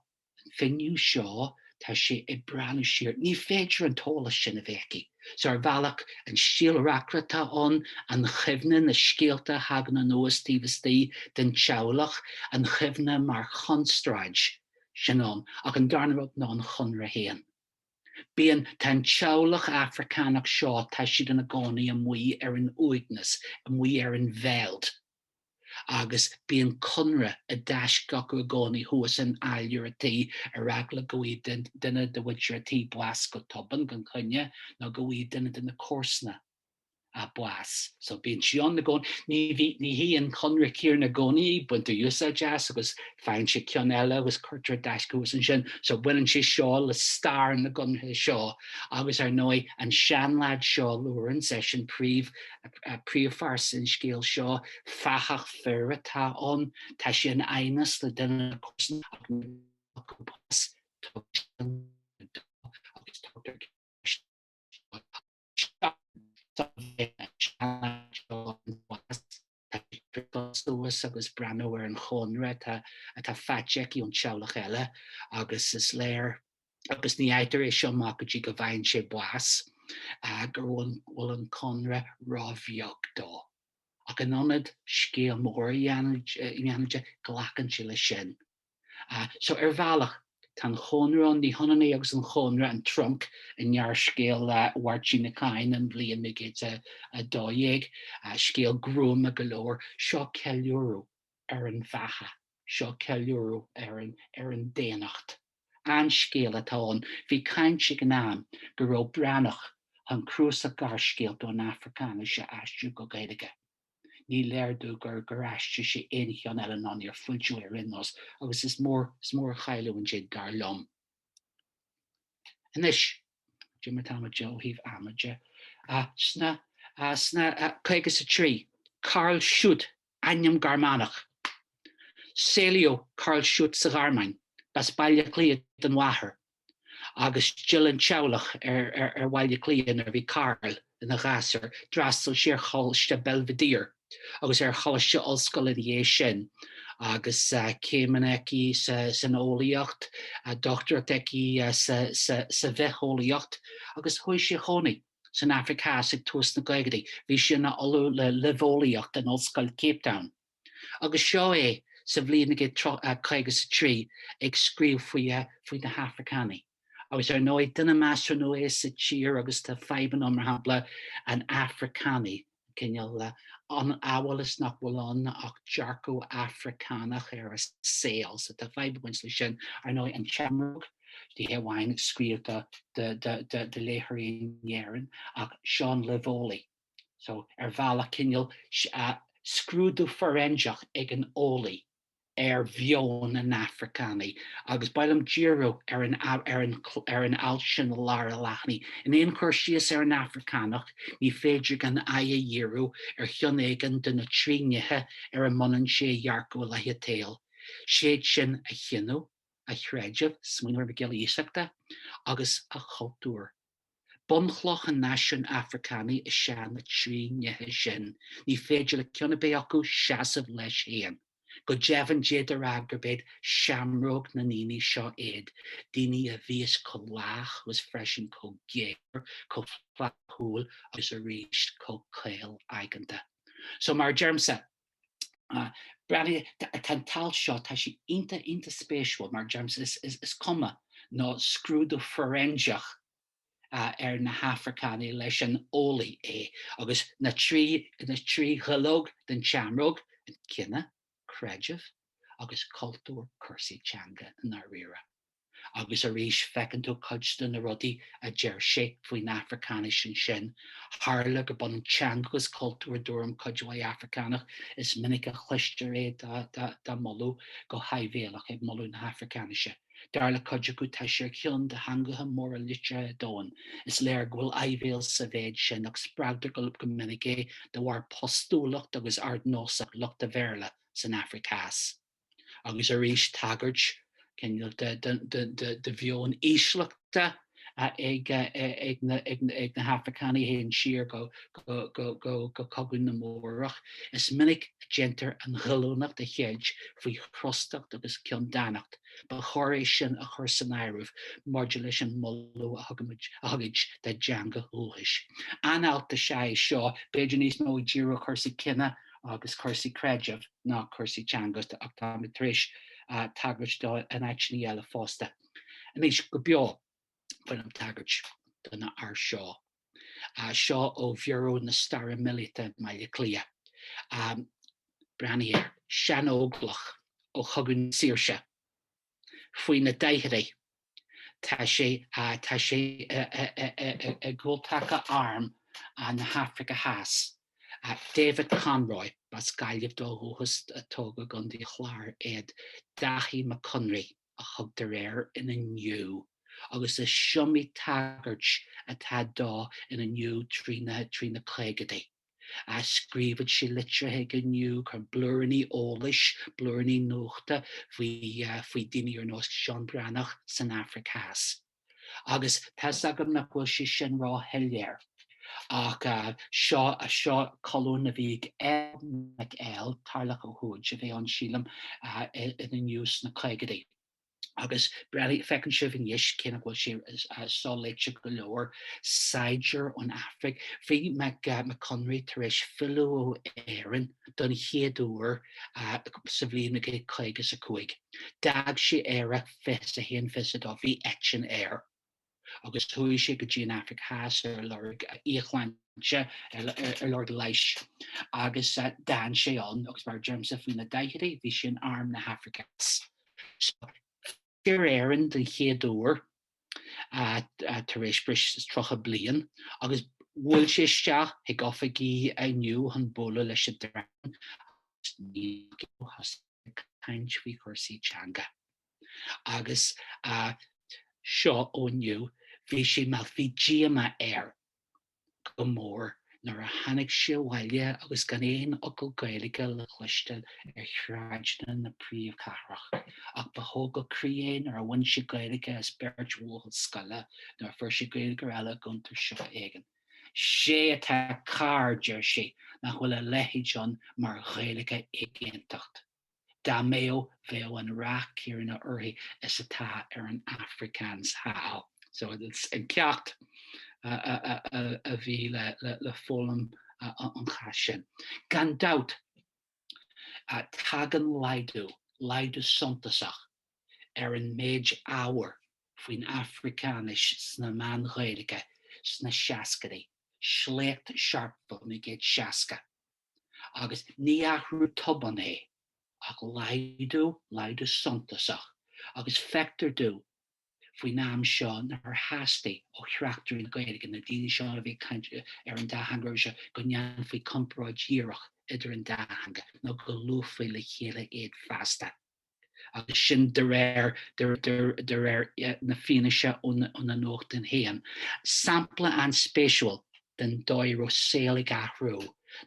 an finné seo, tá sé ag breathnú siar, ní féidir an t-eolas sin a bheith aici. So ar bhealach, an stíl reacaire atá ann, an chuimhne, na scéalta a thagann anuas taobh istigh den teaghlach, an chuimhne mar chonstráid, sin ann, ach an darna rud ná an chónra féin. Bíonn, tá an teaghlach Afracánach seo, tá siad ina gcónaí amuigh ar an uaigneas, amuigh ar an veldt. agus bíonn cónra i dtaisce acu i gcónaí thuas in áiléar a' tí ar eagla go bhfaighidh duine de mhuintir a' tí bás go tobann gan choinne nó go bhfaighidh duine de na comharsana bás. So bíonn sí ann i gcónaí. Ní bhí, ní hí an cónra céanna i gcónaí, baintear úsáid as agus faigheann siad ceann eile agus cuirtear i dtaisce thuas ansin. So baineann sé seo le stair na gcónraí seo agus ar ndóigh an seanleaid seo, Lawrence, eisean príomh, Príomhphearsa an scéil seo, fathach fir atá ann. Tá sé in aighneas le duine dá chomharsana ach nuair a fhaigheann sé amach cúbás, tugann sé an leabhar dó agus tugtar cead isteach dó. Isteach leis ann sa bheairic seo an bás. Tá sí ag priocadh suas agus breathnú ar an chónra atá faighte aici ón teaghlach eile agus is léir agus ní fhaightear é seo amach go dtí go bhfaigheann sé bás, go bhfuil an cónra ró-bheag dó. Ach in ionad scéal mór a dhéanamh de, glacann sé leis sin. So, ar bhealach, tá an Chónra ann, ní hionann é agus an Chónra, an trunc i ngearrscéal Mháirtín Uí Chadhain, An Bhliain 1912, scéal gruama go leor, seo ceiliúradh ar an bheatha, seo ceiliúradh ar an daonnacht. An-scéal atá ann, bhí caint ag an am go raibh Breathnach chun cnuasach gearrscéalta ón Afracáinis a aistriú go Gaeilge. Ní léir dom gur gur aistrigh sé aon cheann eile ná níor foilsíodh é ar aon nós, agus is mór is mór an chailliúint é dar liom. Anois, cuma tamall de ó thaobh ama de, sna, sna, caoga is a trí, Karl Schütte, ainm Gearmánach. Saolaíodh Karl Schütte sa Ghearmáin, b'as Baile Átha Cliath don mháthair, agus d'fhill an teaghlach ar Bhaile Átha Cliath nuair a bhí Karl ina ghasúr. D'fhreastail sé ar Choláiste Belvedere agus ar Choláiste Ollscoile ina dhiaidh sin, agus céimeanna aige san eolaíocht, dochtúireacht aige sa bhitheolaíocht, agus chuaigh sé a chónaí. san Afraic Theas ag tús na gcaogadaí, bhí sé ina ollamh le luibheolaíocht in Ollscoil Cape Town, agus seo é sa bhliain ag a caoga 's a trí ag scríobh faoi faoi na hAfracánaigh. Agus ar ndóigh, duine measartha nua é sa tír agus tá fadhbanna mar shampla an Afracánaigh, cineál ann amhail is nach bhfuil ann ach dearcadh Afracánach ar an saol. So tá fadhb ag baint leis sin. Ar ndóigh, an tseamróg, ní hé amháin scríobhta do léitheoirí in Éirinn, ach seo an luibheolaí. So ar bhealach cineál scrúdú foiréinseach ag an eolaí. ar mheon an Afracánaigh, agus ba mhaith liom díriú ar an ar an alt sin i lár an leathanaigh. In aon chur síos ar an Afracánach, ní féidir gan aghaidh a dhíriú ar cheann éigin de na trí nithe ar a mbunaíonn sé a dhearcadh i leith an tsaoil, is iad sin a chine, a chreideamh, smaoinigh ar Mac Giolla Iasachta, agus a chultúr. Bunchloch an náisiúin Afracánaigh is ea na trí nithe sin. Ní féidir le ceann ar bith acu seasamh leis féin. Go deimhin, d'fhéadfaí a rá gurb iad seamróg na ndaoine seo iad, daoine a bhíos chomh lách agus freisin chomh géar, chomh flaithiúil agus arís chomh caol-aigeanta. So, mar a deirimse, Tá an t-alt seo, tá sé iontach, iontach spéisiúil mar a deirimse, is cuma nó scrúdú foiréinseach ar na hAfracánaigh leis an eolaí é agus na trí dhuilleog den tseamróg, cine, creideamh agus cultúr, cúrsaí teanga i ndáiríre. agus arís feiceann tú cuid de na rudaí a deir sé faoin Afracáinis ansin, tharla gurb ionann teanga agus cultúr i dtuairim cuid mhaith Afracánach, is minic a chloistear é dá moladh go háibhéalach, ag moladh na hAfracáinise. Dar le cuid acu tá sí ar cheann de theangacha móra liteartha an domhain. Is léir go bhfuil áibhéil sa mhéid sin, ach spreagtar go minic é de bharr postúlacht agus ardnósacht lucht an Bhéarla san Afraic Theas. agus arís tagairt do mheon ísleachta ag na hAfracánaigh a théann siar go Cogadh na mBórach. Is minic a dhéantar an ghoilliúnacht a cheilt faoi chrostacht agus ceanndánacht, ba chóir é sin a chur san áireamh maidir leis an moladh a thugaid dá dteanga dhúchais. An-alt is ea é seo, b'fhéidir níos mó ag díriú ar chúrsaí cine agus cúrsaí creidimh, ná cúrsaí teanga ach táimid tar éis tagairt dó in áiteanna eile fosta. Anois, go beo, bainim tagairt don fhear seo. Seo ó Bhiuró na Staire Míleata i mBaile Cliath. Breathnaigh air. Seanóglach ó Chogadh na Saoirse. Faoi na daichidí. Tá sé i gcúltaca Arm na hAfraice Theas. David Conroy, b'as Gaillimh dó ó dhúchas, ach tógadh i gContae an Chláir é. Daithí Mac Conraí a thugtar air in Inniu agus is iomaí tagairt atá dó in Inniu trí na caogadaí. a scríobhadh sé litrithe chuig Inniu chun blúiríní eolais, blúiríní nuachta faoi faoi dhaoine ar nós Seán Breathnach san Afraic Theas. Agus tá's agam nach bhfuil sé sin ró-shoiléir. Ach seo seo colún a bhí ag L. Mhic L. Tarlach Ó hUid a bhí ann sílim in Inniu sna caogaidí. agus breathnaigh, feiceann sibh anois cé nach bhfuil sé so-léite go leor, saighdiúir ón Afraic. Bhí Mac Conraí tar éis filleadh ar Éirinn don chéad uair sa bhliain 1955. D'fhág sé Éire fiche a haon fiche a dó, bhí eitinn air. agus chuaigh sé go dtí an Afraic Theas ar lorg íocshláinte, ar lorg leighis, agus d'fhan sé ann, agus mar a deirimse, faoi na daichidí, bhí sé in Arm na hAfraice Theas. So, fill ar Éirinn den chéad uair tar éis breis is tríocha bliain, agus bhuail sé isteach chuig oifigí Inniu chun bualadh leis an dream a bhí ag caint faoi chúrsaí teanga. agus a seo ó inniu, bhí sé, bhí díomá air go mór nuair a tháinig sé abhaile agus gan aon fhocal Gaeilge le cloisteáil ar shráideanna na príomhchathrach, ach ba thógáil croí é nuair a bhain sé Gaeilge as beirt bhuachaill scoile nuair a fuair sé Gaeilgeoir eile i gcuntar siopa éigin. 'Sé atá cearr, deir sé, nach bhfuil a leithéid ann mar Ghaeilge éigeantacht. Dá mbeadh, bheadh an rath céarna uirthi is atá ar an Afrikaans thall. So it's an ceacht a bhí le foghlaim sa chás sin. Gan dabht, tagann laghdú, laghdú suntasach, ar an méid ábhair faoin Afracáinis sna meáin Ghaeilge sna seascaidí, sléacht Sharpeville naoi gcéad seasca. agus ní athrú tobann é ach laghdú, laghdú suntasach, agus feictear dúinn faoin am seo nár theastaigh ó thráchtairí na Gaeilge, na daoine seo a bhí ag caint ar an dá theanga roimhe seo, go ndéanfaí comparáid dhíreach idir an dá theanga ná go luafaí le chéile iad feasta. agus sin de réir, de réir na fianaise ó na nuachtáin féin. Sampla an-spéisiúil den dóigh a raibh an saol ag athrú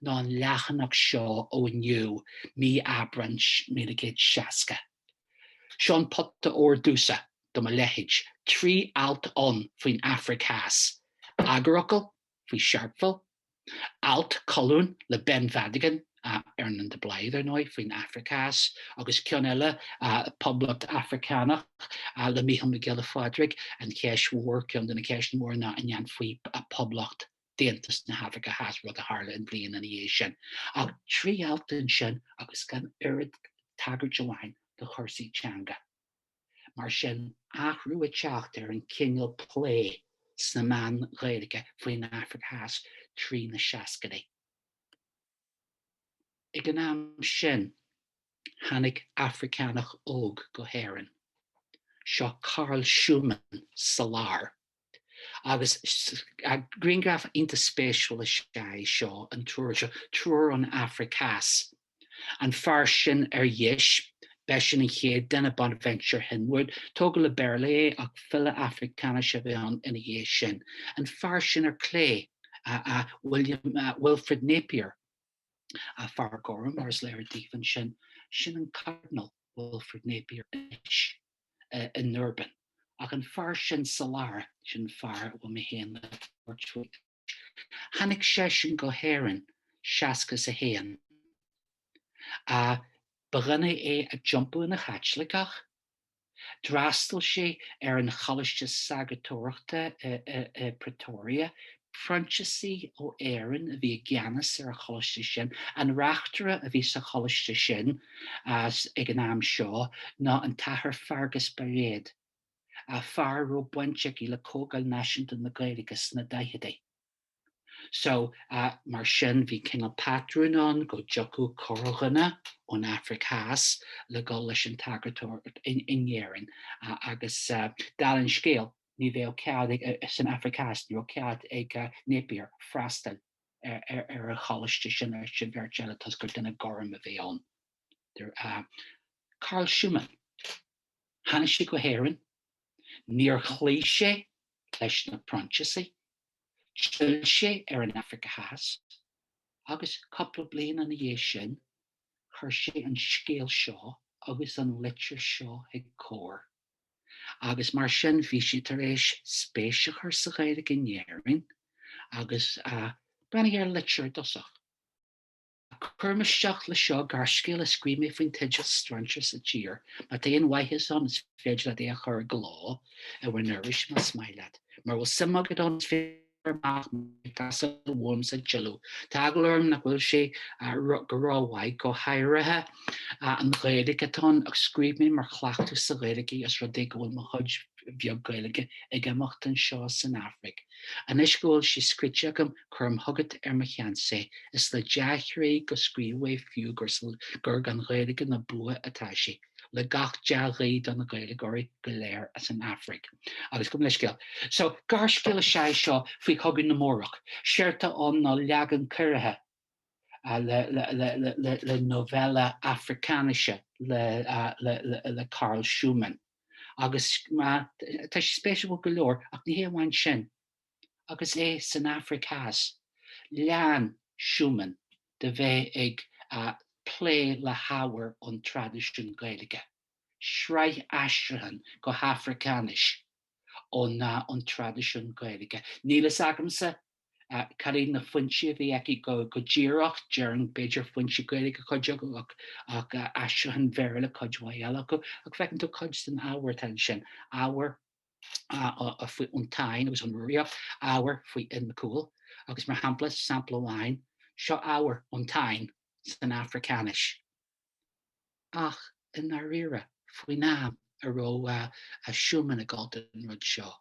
ná an leathanach seo ó Inniu, mí Aibreán 1900 60. Seo an pota óir domsa, do mo leithéid, trí alt ann faoin Afraic Theas, eagarfhocal, faoi Sharpeville, alt, colún le Beann Mhadagáin, Earnán de Blaghd, ar ndóigh, faoin Afraic Theas, agus ceann eile, Poblacht Afracánach, le Mícheál Mac Giolla Phádraig, An Cheist Mhór, ceann de na ceisteanna móra ná an ndéanfaí poblacht d'Aontas na hAfraice Theas, rud a tharla an bhliain ina dhiaidh sin. Ach trí alt ansin agus gan oiread is tagairt amháin do chúrsaí teanga. mar sin, athrú ag teacht ar an gcineál plé sna meáin Ghaeilge faoin Afraic Theas trí na seascaidí. Ag an am sin, tháinig Afracánach óg go hÉirinn. Seo Karel Schoeman sa lár. Agus grianghraf iontach spéisiúil is ea é seo, an triúr seo, triúr ón Afraic Theas. An fear sin ar dheis, b'eisean an chéad duine, Bonaventure Hinwood. Tógadh le Béarla é ach file Afracáinise a bhí ann ina dhiaidh sin. An fear sin ar chlé, William, Wilfrid Napier, fear gorm mar is léir daoibh ansin, sin an Cardinal Wilfrid Napier anois. i nDurban. Ach an fear sin sa lár, sin an fear a bhfuil mé féin le tabhairt faoi anois, tháinig seisean go hÉirinn seasca a haon. Ba dhuine é a d'iompaigh ina Chaitliceach. D'fhreastail sé ar an Choláiste Sagartóireachta i Pretoria, Proinsiasaigh ó Éirinn a bhí i gceannas ar an choláiste sin. An reachtaire a bhí sa choláiste sin ag an am seo ná an tAthair Feargus Bairéad, fear a raibh baint aige le Comhdháil Náisiúnta na Gaeilge sna daicheadaí. So, mar sin, bhí cineál patrún ann go dtiocfadh corrdhuine ón Afraic Theas le dhul leis an tsagartóireacht in Éirinn agus, dála an scéil, Ní bheadh cead, san Afraic Theas, ní raibh cead ag Napier freastal ar an choláiste sin leis an bheirt eile toisc gur duine gorm a bhí ann. Carl Schuman, tháinig sé go hÉirinn, níor chloígh sé leis na Proinsiasaigh, d'fhill sé ar an Afraic Theas agus, cúpla bliain ina dhiaidh sin, chuir sé an scéal seo agus an litir seo chuig Comhar. agus mar sin bhí sé tar éis spéis a chur sa Ghaeilge in Éirinn agus breathnaigh ar an litir i dtosach. Cuirim isteach le seo gearrscéal a scríobh mé faoin teideal Strainséir sa Tír, má tá aon mhaitheas ann is féidir leat é a chur i gcló i bhur n-iris más maith leat. Mura bhfuil suim agat ann is féidir Fuaireamar amach mé ag casadh uaim sa Chile, tá eagla orm nach bhfuil sé go ró mhaith, go háirithe an Ghaeilge atá ann, ach scríobh mé mar chleachtadh sa Ghaeilge os rud é go bhfuil mo chuid bheag Gaeilge ag imeacht anseo san Afraic. Anois go bhfuil sé scríte agam, cuirim chugat ar seans é, is le dea-chroí a scríobhadh é fiú más gan Ghaeilge na bua atá sé. le gach dea-ghuí do na Gaeilgeoirí go léir as an Afraic. Agus gabhaim leithscéal. So, gearrscéal is ea é seo faoi Chogadh na mBórach. Séard atá ann ná leagan ciorraithe de novella Afracáinise le Carl Schumann. Agus tá sé spéisitil go leor, ach ní hé amháin sin, agus é san Afraic Theas, lean Schumann de bheith ag plé le hábhar ón traidisiún Gaeilge, sraith aistriúchán go hAfracáinis ó na ón traidisiún Gaeilge. Níl fhios agamsa cad iad na foinsí a bhí aige go díreach, déarfainn b'fhéidir foinsí Gaeilge cuid acu ach aistriúcháin Bhéarla cuid mhaith eile acu, ach feiceann tú cuid den ábhar atá ansin, ábhar faoi ón Táin agus ón Rúraíocht, ábhar faoi Fhionn Mac Cumhaill, agus mar shampla, sampla amháin, seo ábhar ón Táin san Afracáinis. Ach i ndáiríre, faoin am a raibh Schoeman ag gabháil don rud seo,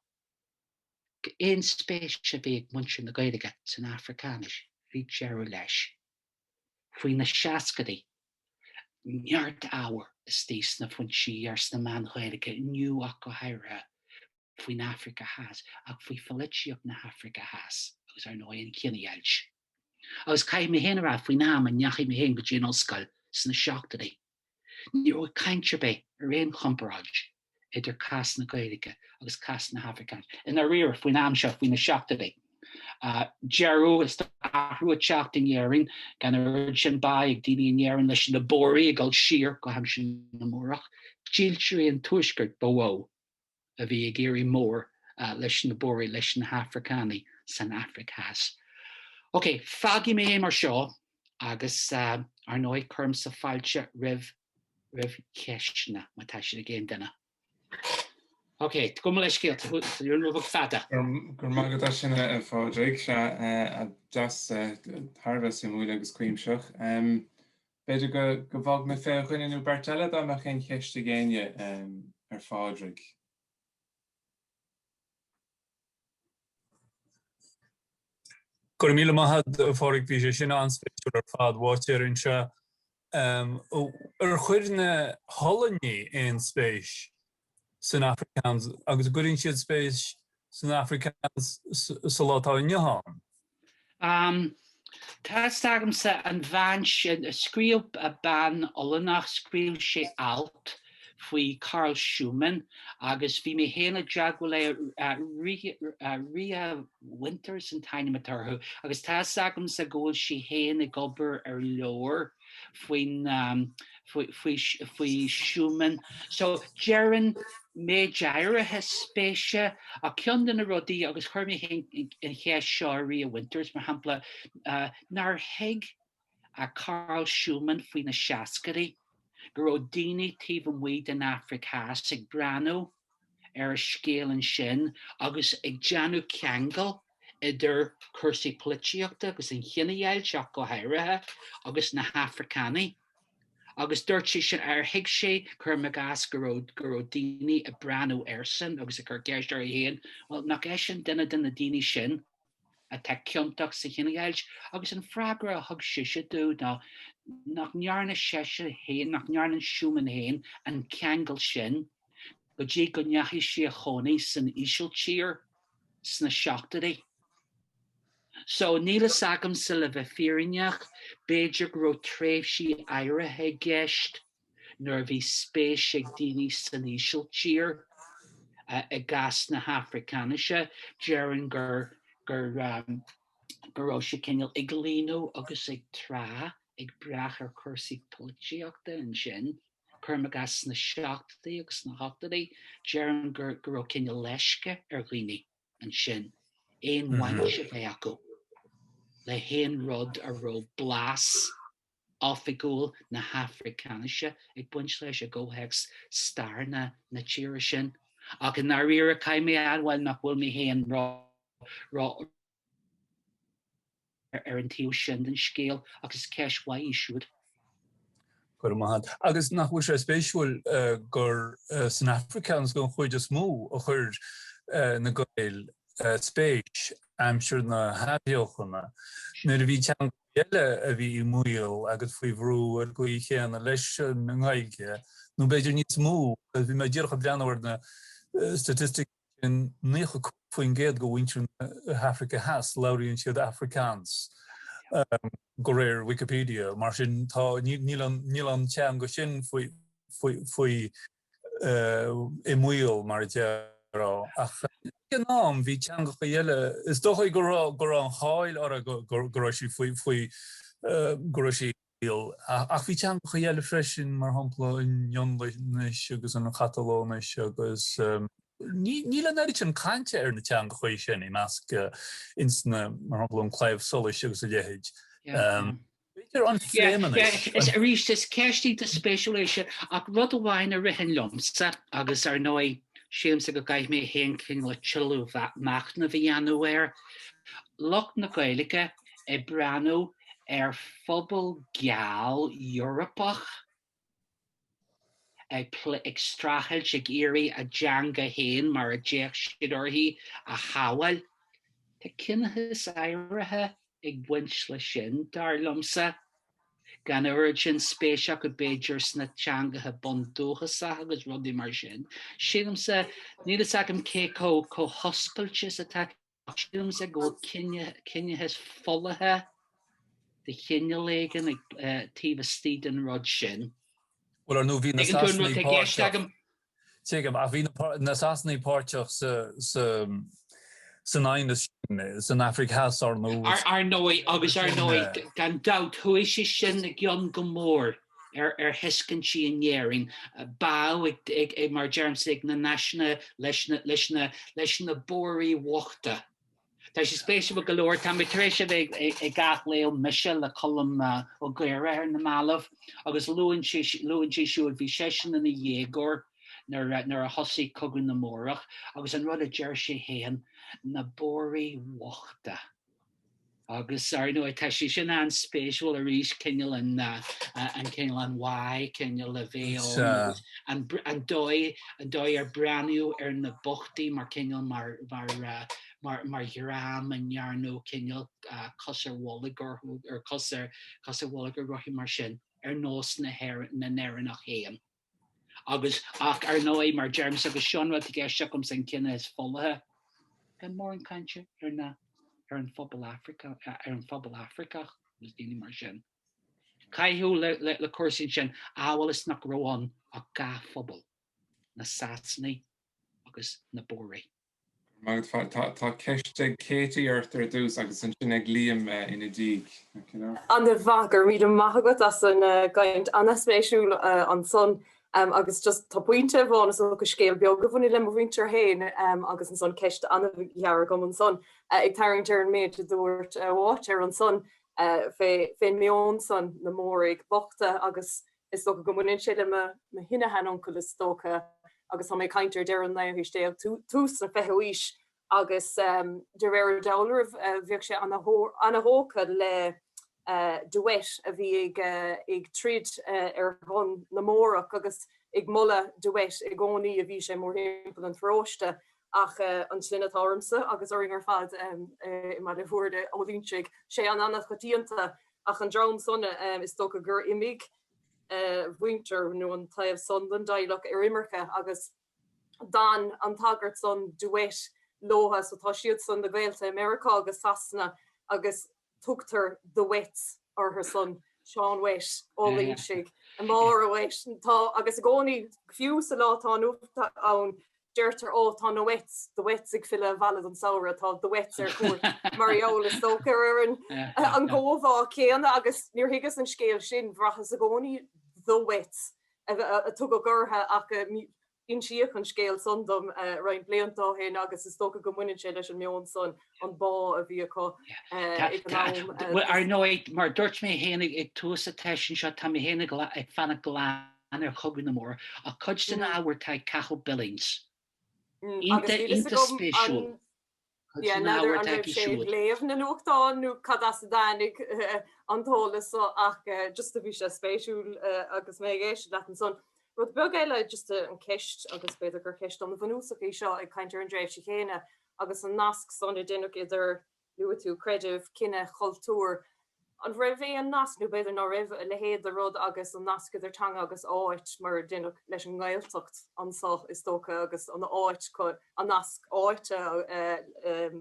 aon spéis a bhí ag muintir na Gaeilge san Afracáinis, bhí deireadh leis. faoi na seascaidí, neart ábhair istigh sna foinsí iar sna meáin Ghaeilge Inniu ach go háirithe, faoin Afraic Theas ach faoi pholaitíocht na hAfraice Theas agus ar ndóigh an chinedheighilt. Agus caithfidh mé féin a rá, faoin am a ndeachaigh mé féin go dtí an ollscoil sna seachtóidí, Ní raibh caint ar bith ar aon chomparáid idir cás na Gaeilge agus cás na hAfracáinise i ndáiríre faoin am seo, faoi na seachtóidí. Deireadh is athrú ag teacht in Éirinn, gan an oiread sin bá ag daoine in Éirinn leis na Bóraigh ag dul siar go haimsir na mBórach. Dílseoirí an Tuaiscirt ba mhó a bhí ag éirí mór leis na Bóraigh, leis na hAfracánaigh san Afraic Theas. Ok, fágfaidh mé é mar seo agus ar ndóigh cuirimse fáilte roimh roimh cheisteanna má tá siad ag aon duine. Ok, gabh mo leithscéal go raibh mé chomh fada. Go raibh maith agat as sin a Phádraig, sea, deas thar a bheith suimiúil agus cuimseach. B'fhéidir go bhfágfaidh mé fé dhuine nó beirt eile dá mbeadh aon cheist ag éinne ar Phádraig. Go raibh míle maith a'd a Phádraig, bhí sé sin an-spéisiúil ar fad. Uáitéar anseo. Ar chuir na hOllannaigh aon spéis? san Afrikaans agus an gcuireann siad spéis san Afrikaans sa lá atá inniu ann. Am. Tá fhios agamsa an bhean sin. Scríobh bean Ollannach, scríobh sé alt faoi Karel Schoeman agus bhí mé féin i dteagmháil le Ria Winters an t-ainm atá uirthi agus tá fhios agamsa go bhfuil sí féin ag obair ar leabhar faoi Schoeman. So déarfainn méid áirithe spéise, ach ceann de na rudaí, agus chuir mé féin an cheist seo ar Ria Winters, mar shampla, nár thuig Karel Schoeman faoi na seascadaí go raibh daoine taobh amuigh den Afraic Theas ag breathnú ar a scéal ansin agus ag déanamh ceangail idir cúrsaí polaitíochta agus an chinedheighilt ach go háirithe, agus na hAfracánaigh. Agus dúirt sé sin, ar thuig sé, cuirim i gcás, go raibh, go raibh daoine ag breathnú airsan agus ag cur ceist orthu féin, bhuel, nach eisean duine de na daoine sin? atá ciontach sa chinedheighilt agus an freagra a thug sise dó ná nach ndearna seisean féin, nach ndearna Schoeman féin an ceangal sin go dtí go ndeachaigh sí a chónaí san Ísiltír sna seachtóidí. So, níl fhios agamsa le bheith fírinneach, b'fhéidir go raibh tréimhsí áirithe i gceist, nuair a bhí spéis ag daoine san Ísiltír i gcás na hAfracáinise, déarfainn gur go raibh sé cineál ag líonadh agus ag trá, ag brath ar chúrsaí polaitíochta ansin, cuirim i gcás sna seachtóidí agus sna hochtóidí, déarfainn gur go raibh cineál leisce ar dhaoine ansin aon bhaint a bheith acu le haon rud a raibh blas, oifigiúil na hAfracáinise ag baint leis i gcomhthéacs stair na na tíre sin, ach i ndáiríre caithfidh mé a admháil nach bhfuil mé féin ró-eolach ar an taobh sin den scéal, ach is ceist mhaith í siúd. Go raibh maith a't. Agus nach bhfuil sé spéisiúil gur san Afrikaans den chuid is mó a chuir na Gaeil spéis aimsir na hAthbheochana, nuair a bhí teanga eile a bhí i mbaol agus faoi bhrú ar an gcaoi chéanna leis an nGaeilge, nó b'fhéidir níos mó, agus bhí mé díreach ag breathnú ar na staitisticí sin, 95% de mhuintir na hAfraice Theas, labhraíonn siad Afrikaans, de réir Wikipedia, mar sin tá, níl an, níl an teanga sin faoi, faoi, faoi. i mbaol, mar a déarfá, ach ag an am bhí teangacha eile, is dócha go raibh go raibh an cháil orthu go go raibh sí faoi faoi go raibh sí i mbaol, ach bhí teangacha eile freisin, mar shampla an Fhionlainnis agus an Chatalóinis agus ní níl an oiread sin cainte ar na teangacha sin i measc ins na, mar shampla an Claidheamh Soluis agus a leithéid. B'fhéidir an Phléimeannais. Is arís, is ceist iontach spéisiúil é sin, ach rud amháin a ritheann liomsa, agus ar ndóigh, sílimse go gcaithfidh mé féin cineál tuilleadh machnaimh a dhéanamh air, lucht na Gaeilge ag breathnú ar phobal geal Eorpach, ag plé, ag streachailt, ag iarraidh a dteanga féin, mar a d'fhéach siad uirthi, a shábháil. Tá ciníochas áirithe ag baint leis sin, dar liomsa. Gan a oiread sin spéis acu b'fhéidir sna teangacha bundúchasacha agus rudaí mar sin. Sílimse, níl fhios agam cé chomh hoscailte is atá Ach sílim go bhfuil ciníochas folaithe de chineál éigin taobh istigh den rud sin. Bhuel, ar ndóigh bhí na Sasanaigh páirteach. Tuigim, ach bhí na Sasanaigh páirteach san aighneas sin san Afraic Theas, ar ndóigh. Ar ndóigh, agus ar ndóigh, gan dabht, chuaigh sé sin i gcion go mór ar thuiscintí in Éirinn, bá ag, mar a deirimse, ag na náisiúnaithe leis na Bóraigh bhochta. Tá sé spéisiúil go leor, tá mé tar éis a bheith ag athléamh Mise le Colm Ó Gaora ar na mallaibh agus luann sé, luann sé siúd, bhí seisean ina dhéagóir nuair a thosaigh Cogadh na mBórach agus an rud a deir sé féin, na Bóraigh bhochta. Agus, ar ndóigh, tá sé sin an-spéisiúil arís, cineál an, an cineál an bháidh, cineál a bhí ann, agus an, an dóigh, an dóigh ar breathnaíodh ar na bochtaí mar cineál, mar, mar, mar, mar dhream a ndearnadh cineál cos ar bholg orthu, ar cos ar, cos ar bholg orthu mar sin, ar nós na hÉireann, na nÉireannach fhéin. Agus, ach ar ndóigh, mar deirimse, agus seo an rud atá i gceist agamsa, an ciníochas folaithe, gan mórán cainte ar na, ar an phobal Afracach, ar an phobal Afracach agus daoine mar sin. Caitheadh le, le, le cúrsaí ansin amhail is nach raibh ann ach dhá phobal, na Sasanaigh agus na Bóraigh. Tá ceist ag Katie ort ar dtús agus ansin ag Liam ina diaidh. Ana mhaith, go raibh míle maith agat as an gcaint ana spéisiúil ansan. Agus just tá pointe amháin is dócha, scéal beag a bhaineann le mo mhuintir féin agus ansan ceist ana ghearr agam ansan ag tarraingt ar an méid a dúirt a mháitéar ansan fé meon son na mBórach bochta agus Is dócha go mbaineann sé le mo shin-sheanuncail, is dócha, agus tá mé ag caint ar deireadh an naoú haois déag, tús an fichiú haois, agus de réir an dealraimh, bheadh sé an-thógtha le de Wet, a bhí ag troid ar shon na mBórach, agus ag moladh de Wet i gcónaí a bhí sé mórthimpeall an pharóiste, ach an tsloinne atá ormsa, agus orainn ar fad i mBaile Bhúirne, Ó Loingsigh, sé an-choitianta. Ach an dream san is dócha gur imigh mhuintir nó an taobh san den dteaghlach ar imirce agus d'fhan an tagairt san de Wet leothu. So tá siad san na gaolta i Meiriceá agus Sasana agus tugtar de Wets ortha san, Seán Wet, Ó Loingsigh, Máire Wet. Tá, agus i gcónaí fiú sa lá atá inniu ann, deirtear oh tá na wets, De Wets ag filleadh abhaile don samhradh, tá De Wets ar cuairt mar gheall is dócha ar ar an gcomhbhá céanna agus níor thuigeas an scéal sin, bhraitheas i gcónaí the wets a tugadh orthu ach insíodh an scéal san dom roinnt blianta ó shin agus is dócha go mbaineann sé leis an meon san, an bá a bhí acu ag an am. Bhuel ar ndóigh mar a dúirt mé fhéin ag tús an tseisiúin seo tá mé fhéin ag fanacht go leath ann ar Chogadh na mBórach, cuid den ábhar atá ag Cathal Billings. Iontach, iontach spéisiúil. Cuid den ábhar atá aige siúd. léamh na nuachtán nó cad as a dtáinig an t-eolas seo ach just a bhí sé spéisiúil agus mé ag éisteacht leat ansan. Rud beag eile just an ceist agus b'fhéidir gur ceist an-bhunúsach í seo ag caint ar an dtréimhse chéanna agus an nasc san a deineadh idir Luaigh tú creideamh, cine, cultúr. An raibh aon nasc, nó b'fhéidir ná raibh, a leithéid de rud agus an nasc idir teanga agus áit, mar a deineadh leis an nGaeltacht anso is dócha, agus an áit, an nasc áite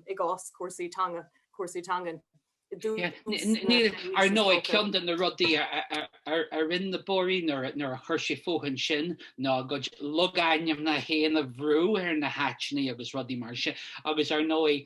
i gcás cúrsaí teanga, cúrsaí teangan i dtús na haoise is dócha. Níl, ar ndóigh, ceann de na rudaí a rinn na Bóraigh nuair a chuir siad fúthu ansin ná a gcuid logainmneacha féin a bhrú ar na háiteanna agus rudaí mar sin, agus ar ndóigh,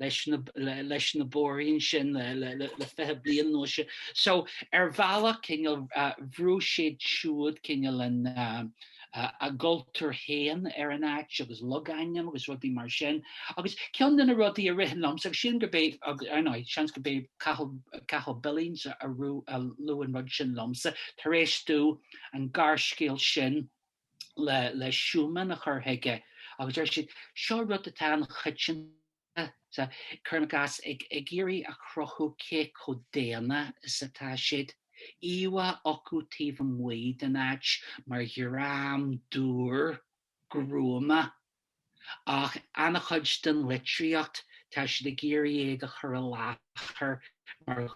leis na Bóraigh ansin le fiche bliain nó sin. So ar bhealach cineál bhrúigh siad siúd cineál a gcultúr féin ar an áit agus logainm agus rudaí mar sin. Agus ceann de na rudaí a ritheann liom, agus sílim gurb é, ar ndóigh, seans gurb é Cathal Billings a luaigh an rud sin liomsa tar éis dó an gearrscéal sin le Schoeman a chur chuige agus deir siad, seo rud atá an-choitianta sa, cuirim i gcás, ag iarraidh a chruthú cé chomh daonna is atá siad. íomhá acu taobh amuigh den áit mar dhream dúr, gruama. Ach an-chuid den litríocht, tá siad ag iarraidh iad a chur i láthair mar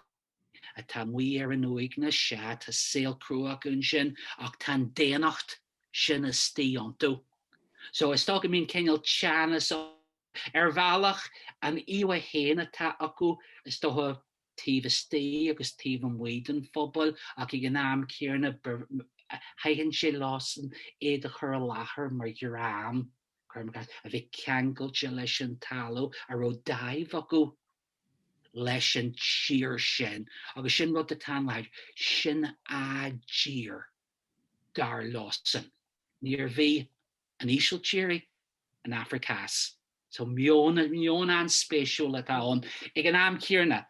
atá amuigh ar an uaigneas, sea, tá saol crua acu ansin, ach tá an daonnacht sin istigh iontu. So, is dócha go mbíonn cineál teannas ann, ar bhealach, an íomha féin atá acu, is dócha, taobh istigh agus taobh amuigh den phobal, ach ag an am céanna, thaitin sé leosan iad a chur i láthair mar dhream, cuirim i gcás, a bhí ceangailte leis an talamh, a raibh dáimh acu leis an tír sin, agus sin rud atá an-láidir, sin a dtír, dar leosan. Níorbh í an Ísiltír í, an Afraic Theas. So meon, meon an-spéisiúil atá ann. Ag an am chéarna,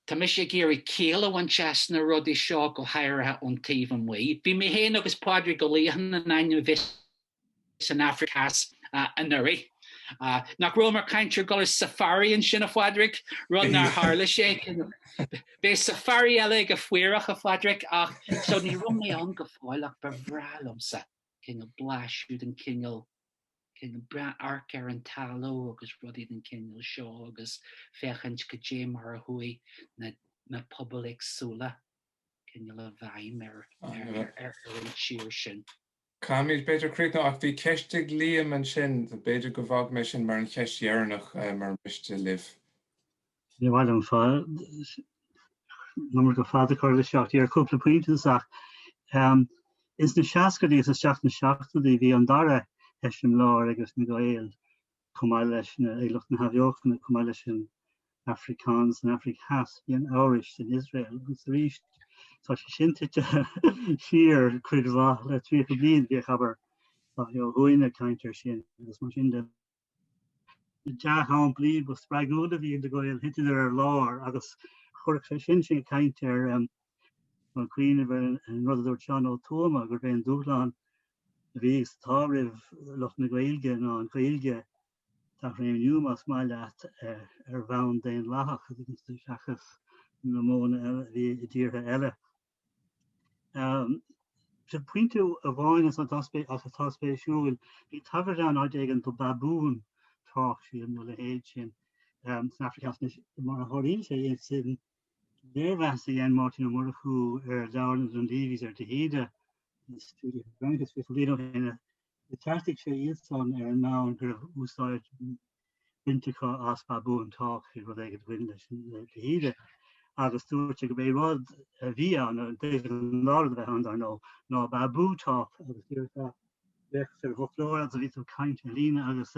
tá mise ag iarraidh ciall a bhaint as na rudaí seo, go háirithe ón taobh amuigh. Bhí mé féin agus Pádraig Ó Liatháin in ainm is. san Afraic Theas anuraidh. Nach raibh mé ag caint ar dhul ar safari ansin, a Phádraig? Rud nár tharla sé, cineál, beidh safari eile ag an Phaorach, a Phádraig, ach so ní raibh mé ann go fóill ach ba bhreá liomsa cineál blaiseadh den chineál cineál breith amharc ar an talamh agus rudaí den chineál seo agus féachaint goidé mar a chuaigh na na pobail éagsúla cineál i bhfeidhm ar ar ar ar an tír sin. Caithfimid b'fhéidir críochnú, ach bhí ceist ag Liam ansin, b'fhéidir go bhfágfaidh mé sin mar an cheist dheireanach, mura miste libh. Ní maith liom an iomarca fad a chur leis ach ar chúpla pointe ach ins na seascaidí is isteach sna seachtóidí bhí an dara heiseamláir ag na Gaeil Chomh maith leis lucht na hathbheochana, chomh maith leis an Afrikaans, an Afraic Theas, bhí an Eabhrais in Iosrael agus arís tá sé sin tite siar cuid mhaith le 30 bliain. Bhíodh an-chuid daoine ag caint air sin agus mar sin de. Na dea-shamplaí ba spreagúla a bhí ag Gaeil thiteadar ar lár agus chuirfeadh sé sin sinn ag caint ar ag cuimhneamh ar an rud a dúirt Seán Ó Tuama, gurb é an dúshlán a bhí agus atá roimh lucht na Gaeilge ná an Ghaeilge a athréimniú, más maith leat, ar bhonn daonlathach, seachas na modhanna eile a bhí i dtíortha eile. Sin pointe amháin atá spéisiúil. Bhí tagairt ann, áit éigin, do bábhún tách, sílim, nó a leithéid sin, san Afraic Theas. Anois, mar a tharlaíonn sé, sin Léirmheas a dhein Máirtín Ó Murchú ar leabhar na Dunleavys ar de hÍde in Studia Hibernica fiche bliain ó shin, agus cheartaigh sé iad san ar an mbonn go raibh úsáid bainte acu as bábhún tách i rud éigin a bhain leis an de hÍde, agus dúirt sé go b'é rud a bhí ann, a d'fhéadfadh a lán rud a bheith ann, dar ndó, ná bábhún tách, agus díreach a bheadh ar an bhfoclóir agus a bhí tú ag caint ar líne, agus.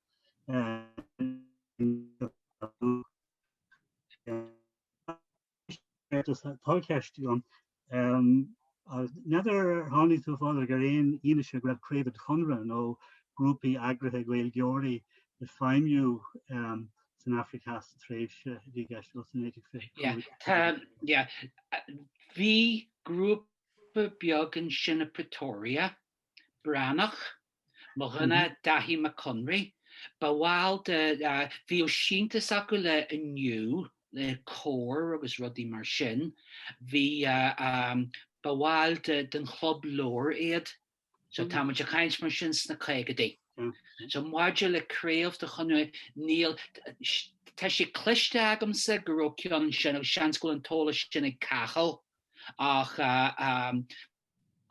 Tá ceist agam, n'fheadar ar tháinig tú, a Phádraig, ar aon fhianaise go raibh craobh den Chonradh nó grúpaí eagraithe Gaeilgeoirí ag feidhmiú san Afraic Theas sa tréimhse a bhí i gceist ó 1925? Bhí grúpa beag ansin i Pretoria, Breathnach, mo dhuine Daithí Mac Conraí, ba bhall de, bhíodh síntiús acu le Inniu, le Comhar agus rudaí mar sin, bhí, ba bhaill den Chlub Leabhar iad, so tá muid a' caint mar sin sna caogadaí. So maidir le craobh den Chonradh, níl, tá sé cloiste agamsa go raibh ceann ansin agus seans go bhfuil an t-eolas sin ag Cathal ach.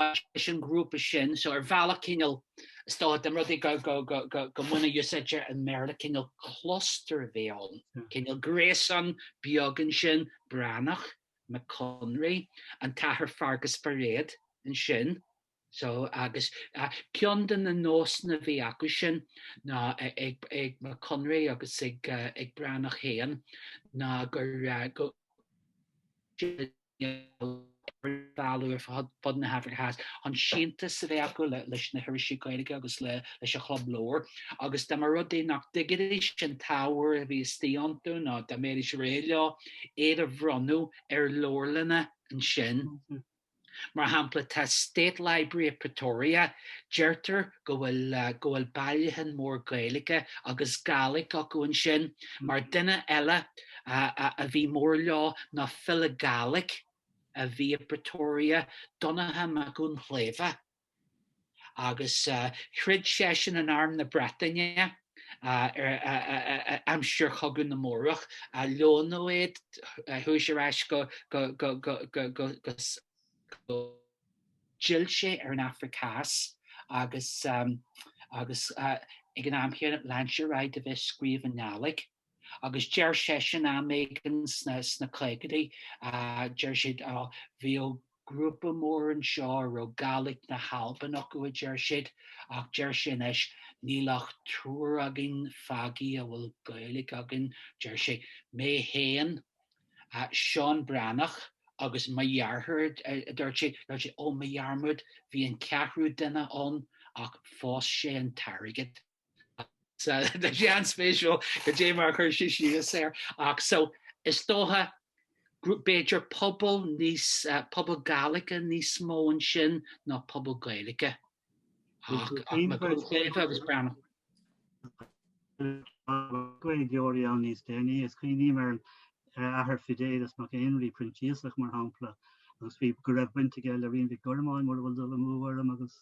leis an ngrúpa sin, so ar bhealach cineál, is dócha, den rud é go, go, go, go, go mbaineadh úsáid as an mBéarla, cineál cluster a bhí ann, cineál gréasán beag ansin, Breathnach, Mac Conraoi, an tAthair Feargus Bairéad ansin, so agus eh, ceann de na nósanna a bhí acu sin ná eh, ag, ag Mac Conraoi agus ag, eh, ag Breathnach féin ná gur, eh, go, éigeandálaí ar fud na hAfraice Theas, chun síntiús a bheith acu leis na hirisí Gaeilge agus leis an Chlub Leabhar. Agus dá mba rud é nach dtuigidís an t-ábhar a bhí istigh iontu nó dá mbeidís réidh leo iad a bhronnadh ar leabharlanna ansin, mar shampla, tá State Library of Pretoria, deirtear go bhfuil go bhfuil bailiúchán mór Gaeilge agus Gaelic acu ansin, mar duine eile a bhí mór leo ná file Gaelic a bhí i bPretoria, Donncha Mac Dhuinnshléibhe, agus throid seisean in arm na Breataine aimsir Chogadh na mBórach. Leonadh é, chuaigh sé ar ais go. D'fhill sé ar an Afraic Theas agus ag an am chéanna lean sé ar aghaidh de bheith ag scríobh i nGaelic. Agus deir seisean, am éigin sna caogaidí, deir siad, á, bhíodh grúpa mór anseo a raibh Gaelic na hAlban acu, a deir siad, ach deir sé anois, níl ach triúr againn fágthaí a bhfuil Gaeilge againn, deir sé, mé féin, Seán Breathnach, agus mo dheartháir, a dúirt sé, dúirt sé, ó, mo dhearmad, bhí an ceathrú duine ann, ach phós sé an t-airgead. Tá sé an-spéisiúil cad é mar a chuir sé síos air. Ach so, is dócha, b'fhéidir pobal níos, pobal Gaelic níos mó ansin ná pobal Gaeilge. Ach Mac Conraoi agus Breathnach. Gaeilgeoirí ann níos déanaí, is cuimhním ar an Athair Fidelis Mac Éinrí, Proinsiasach, mar shampla, agus bhí go raibh baint aige le Rinn Mhic Gormáin, mura bhfuil dul amú orm, agus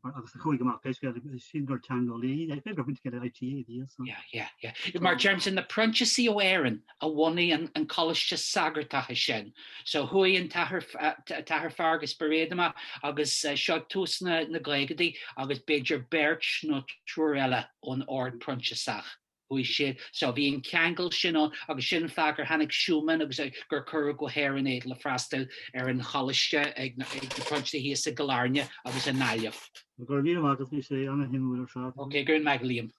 agus a chuaigh amach, pé scéal, is sin gur teangeolaí é. B'fhéidir go raibh baint aige le ITÉ a bhí ansan. Yeah, yeah, yeah. Mar deirimse, na Proinsiasaigh ó Éirinn a bhunaigh an an coláiste sagartachta sin. So chuaigh an t-athair t-athair Feargus Bairéad amach, agus seo tús na na gcaogaidí, agus b'fhéidir beirt nó triúr eile ón ord Proinsiasach. Thuig siad seo, bhí an ceangal sin ann agus sin an fáth gur tháinig Súman agus gur cuireadh go hÉirinn iad le freastal ar an choláiste ag na Proinsiasaigh thíos i gCill Airne agus i nGaillimh. Go raibh míle maith agat, bhí sé an-shuimiúil ar fad. Ok, go raibh maith agat, Liam.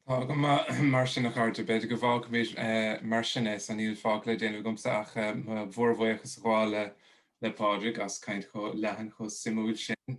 Tá go maith mar sin, a chairde. B'fhéidir go bhfágfaimid mar sin é, so níl fágtha le déanamh agamsa ach mo mhórbhuíochas a ghabháil le Pádraig as caint chomh leathan, chomh suimiúil sin.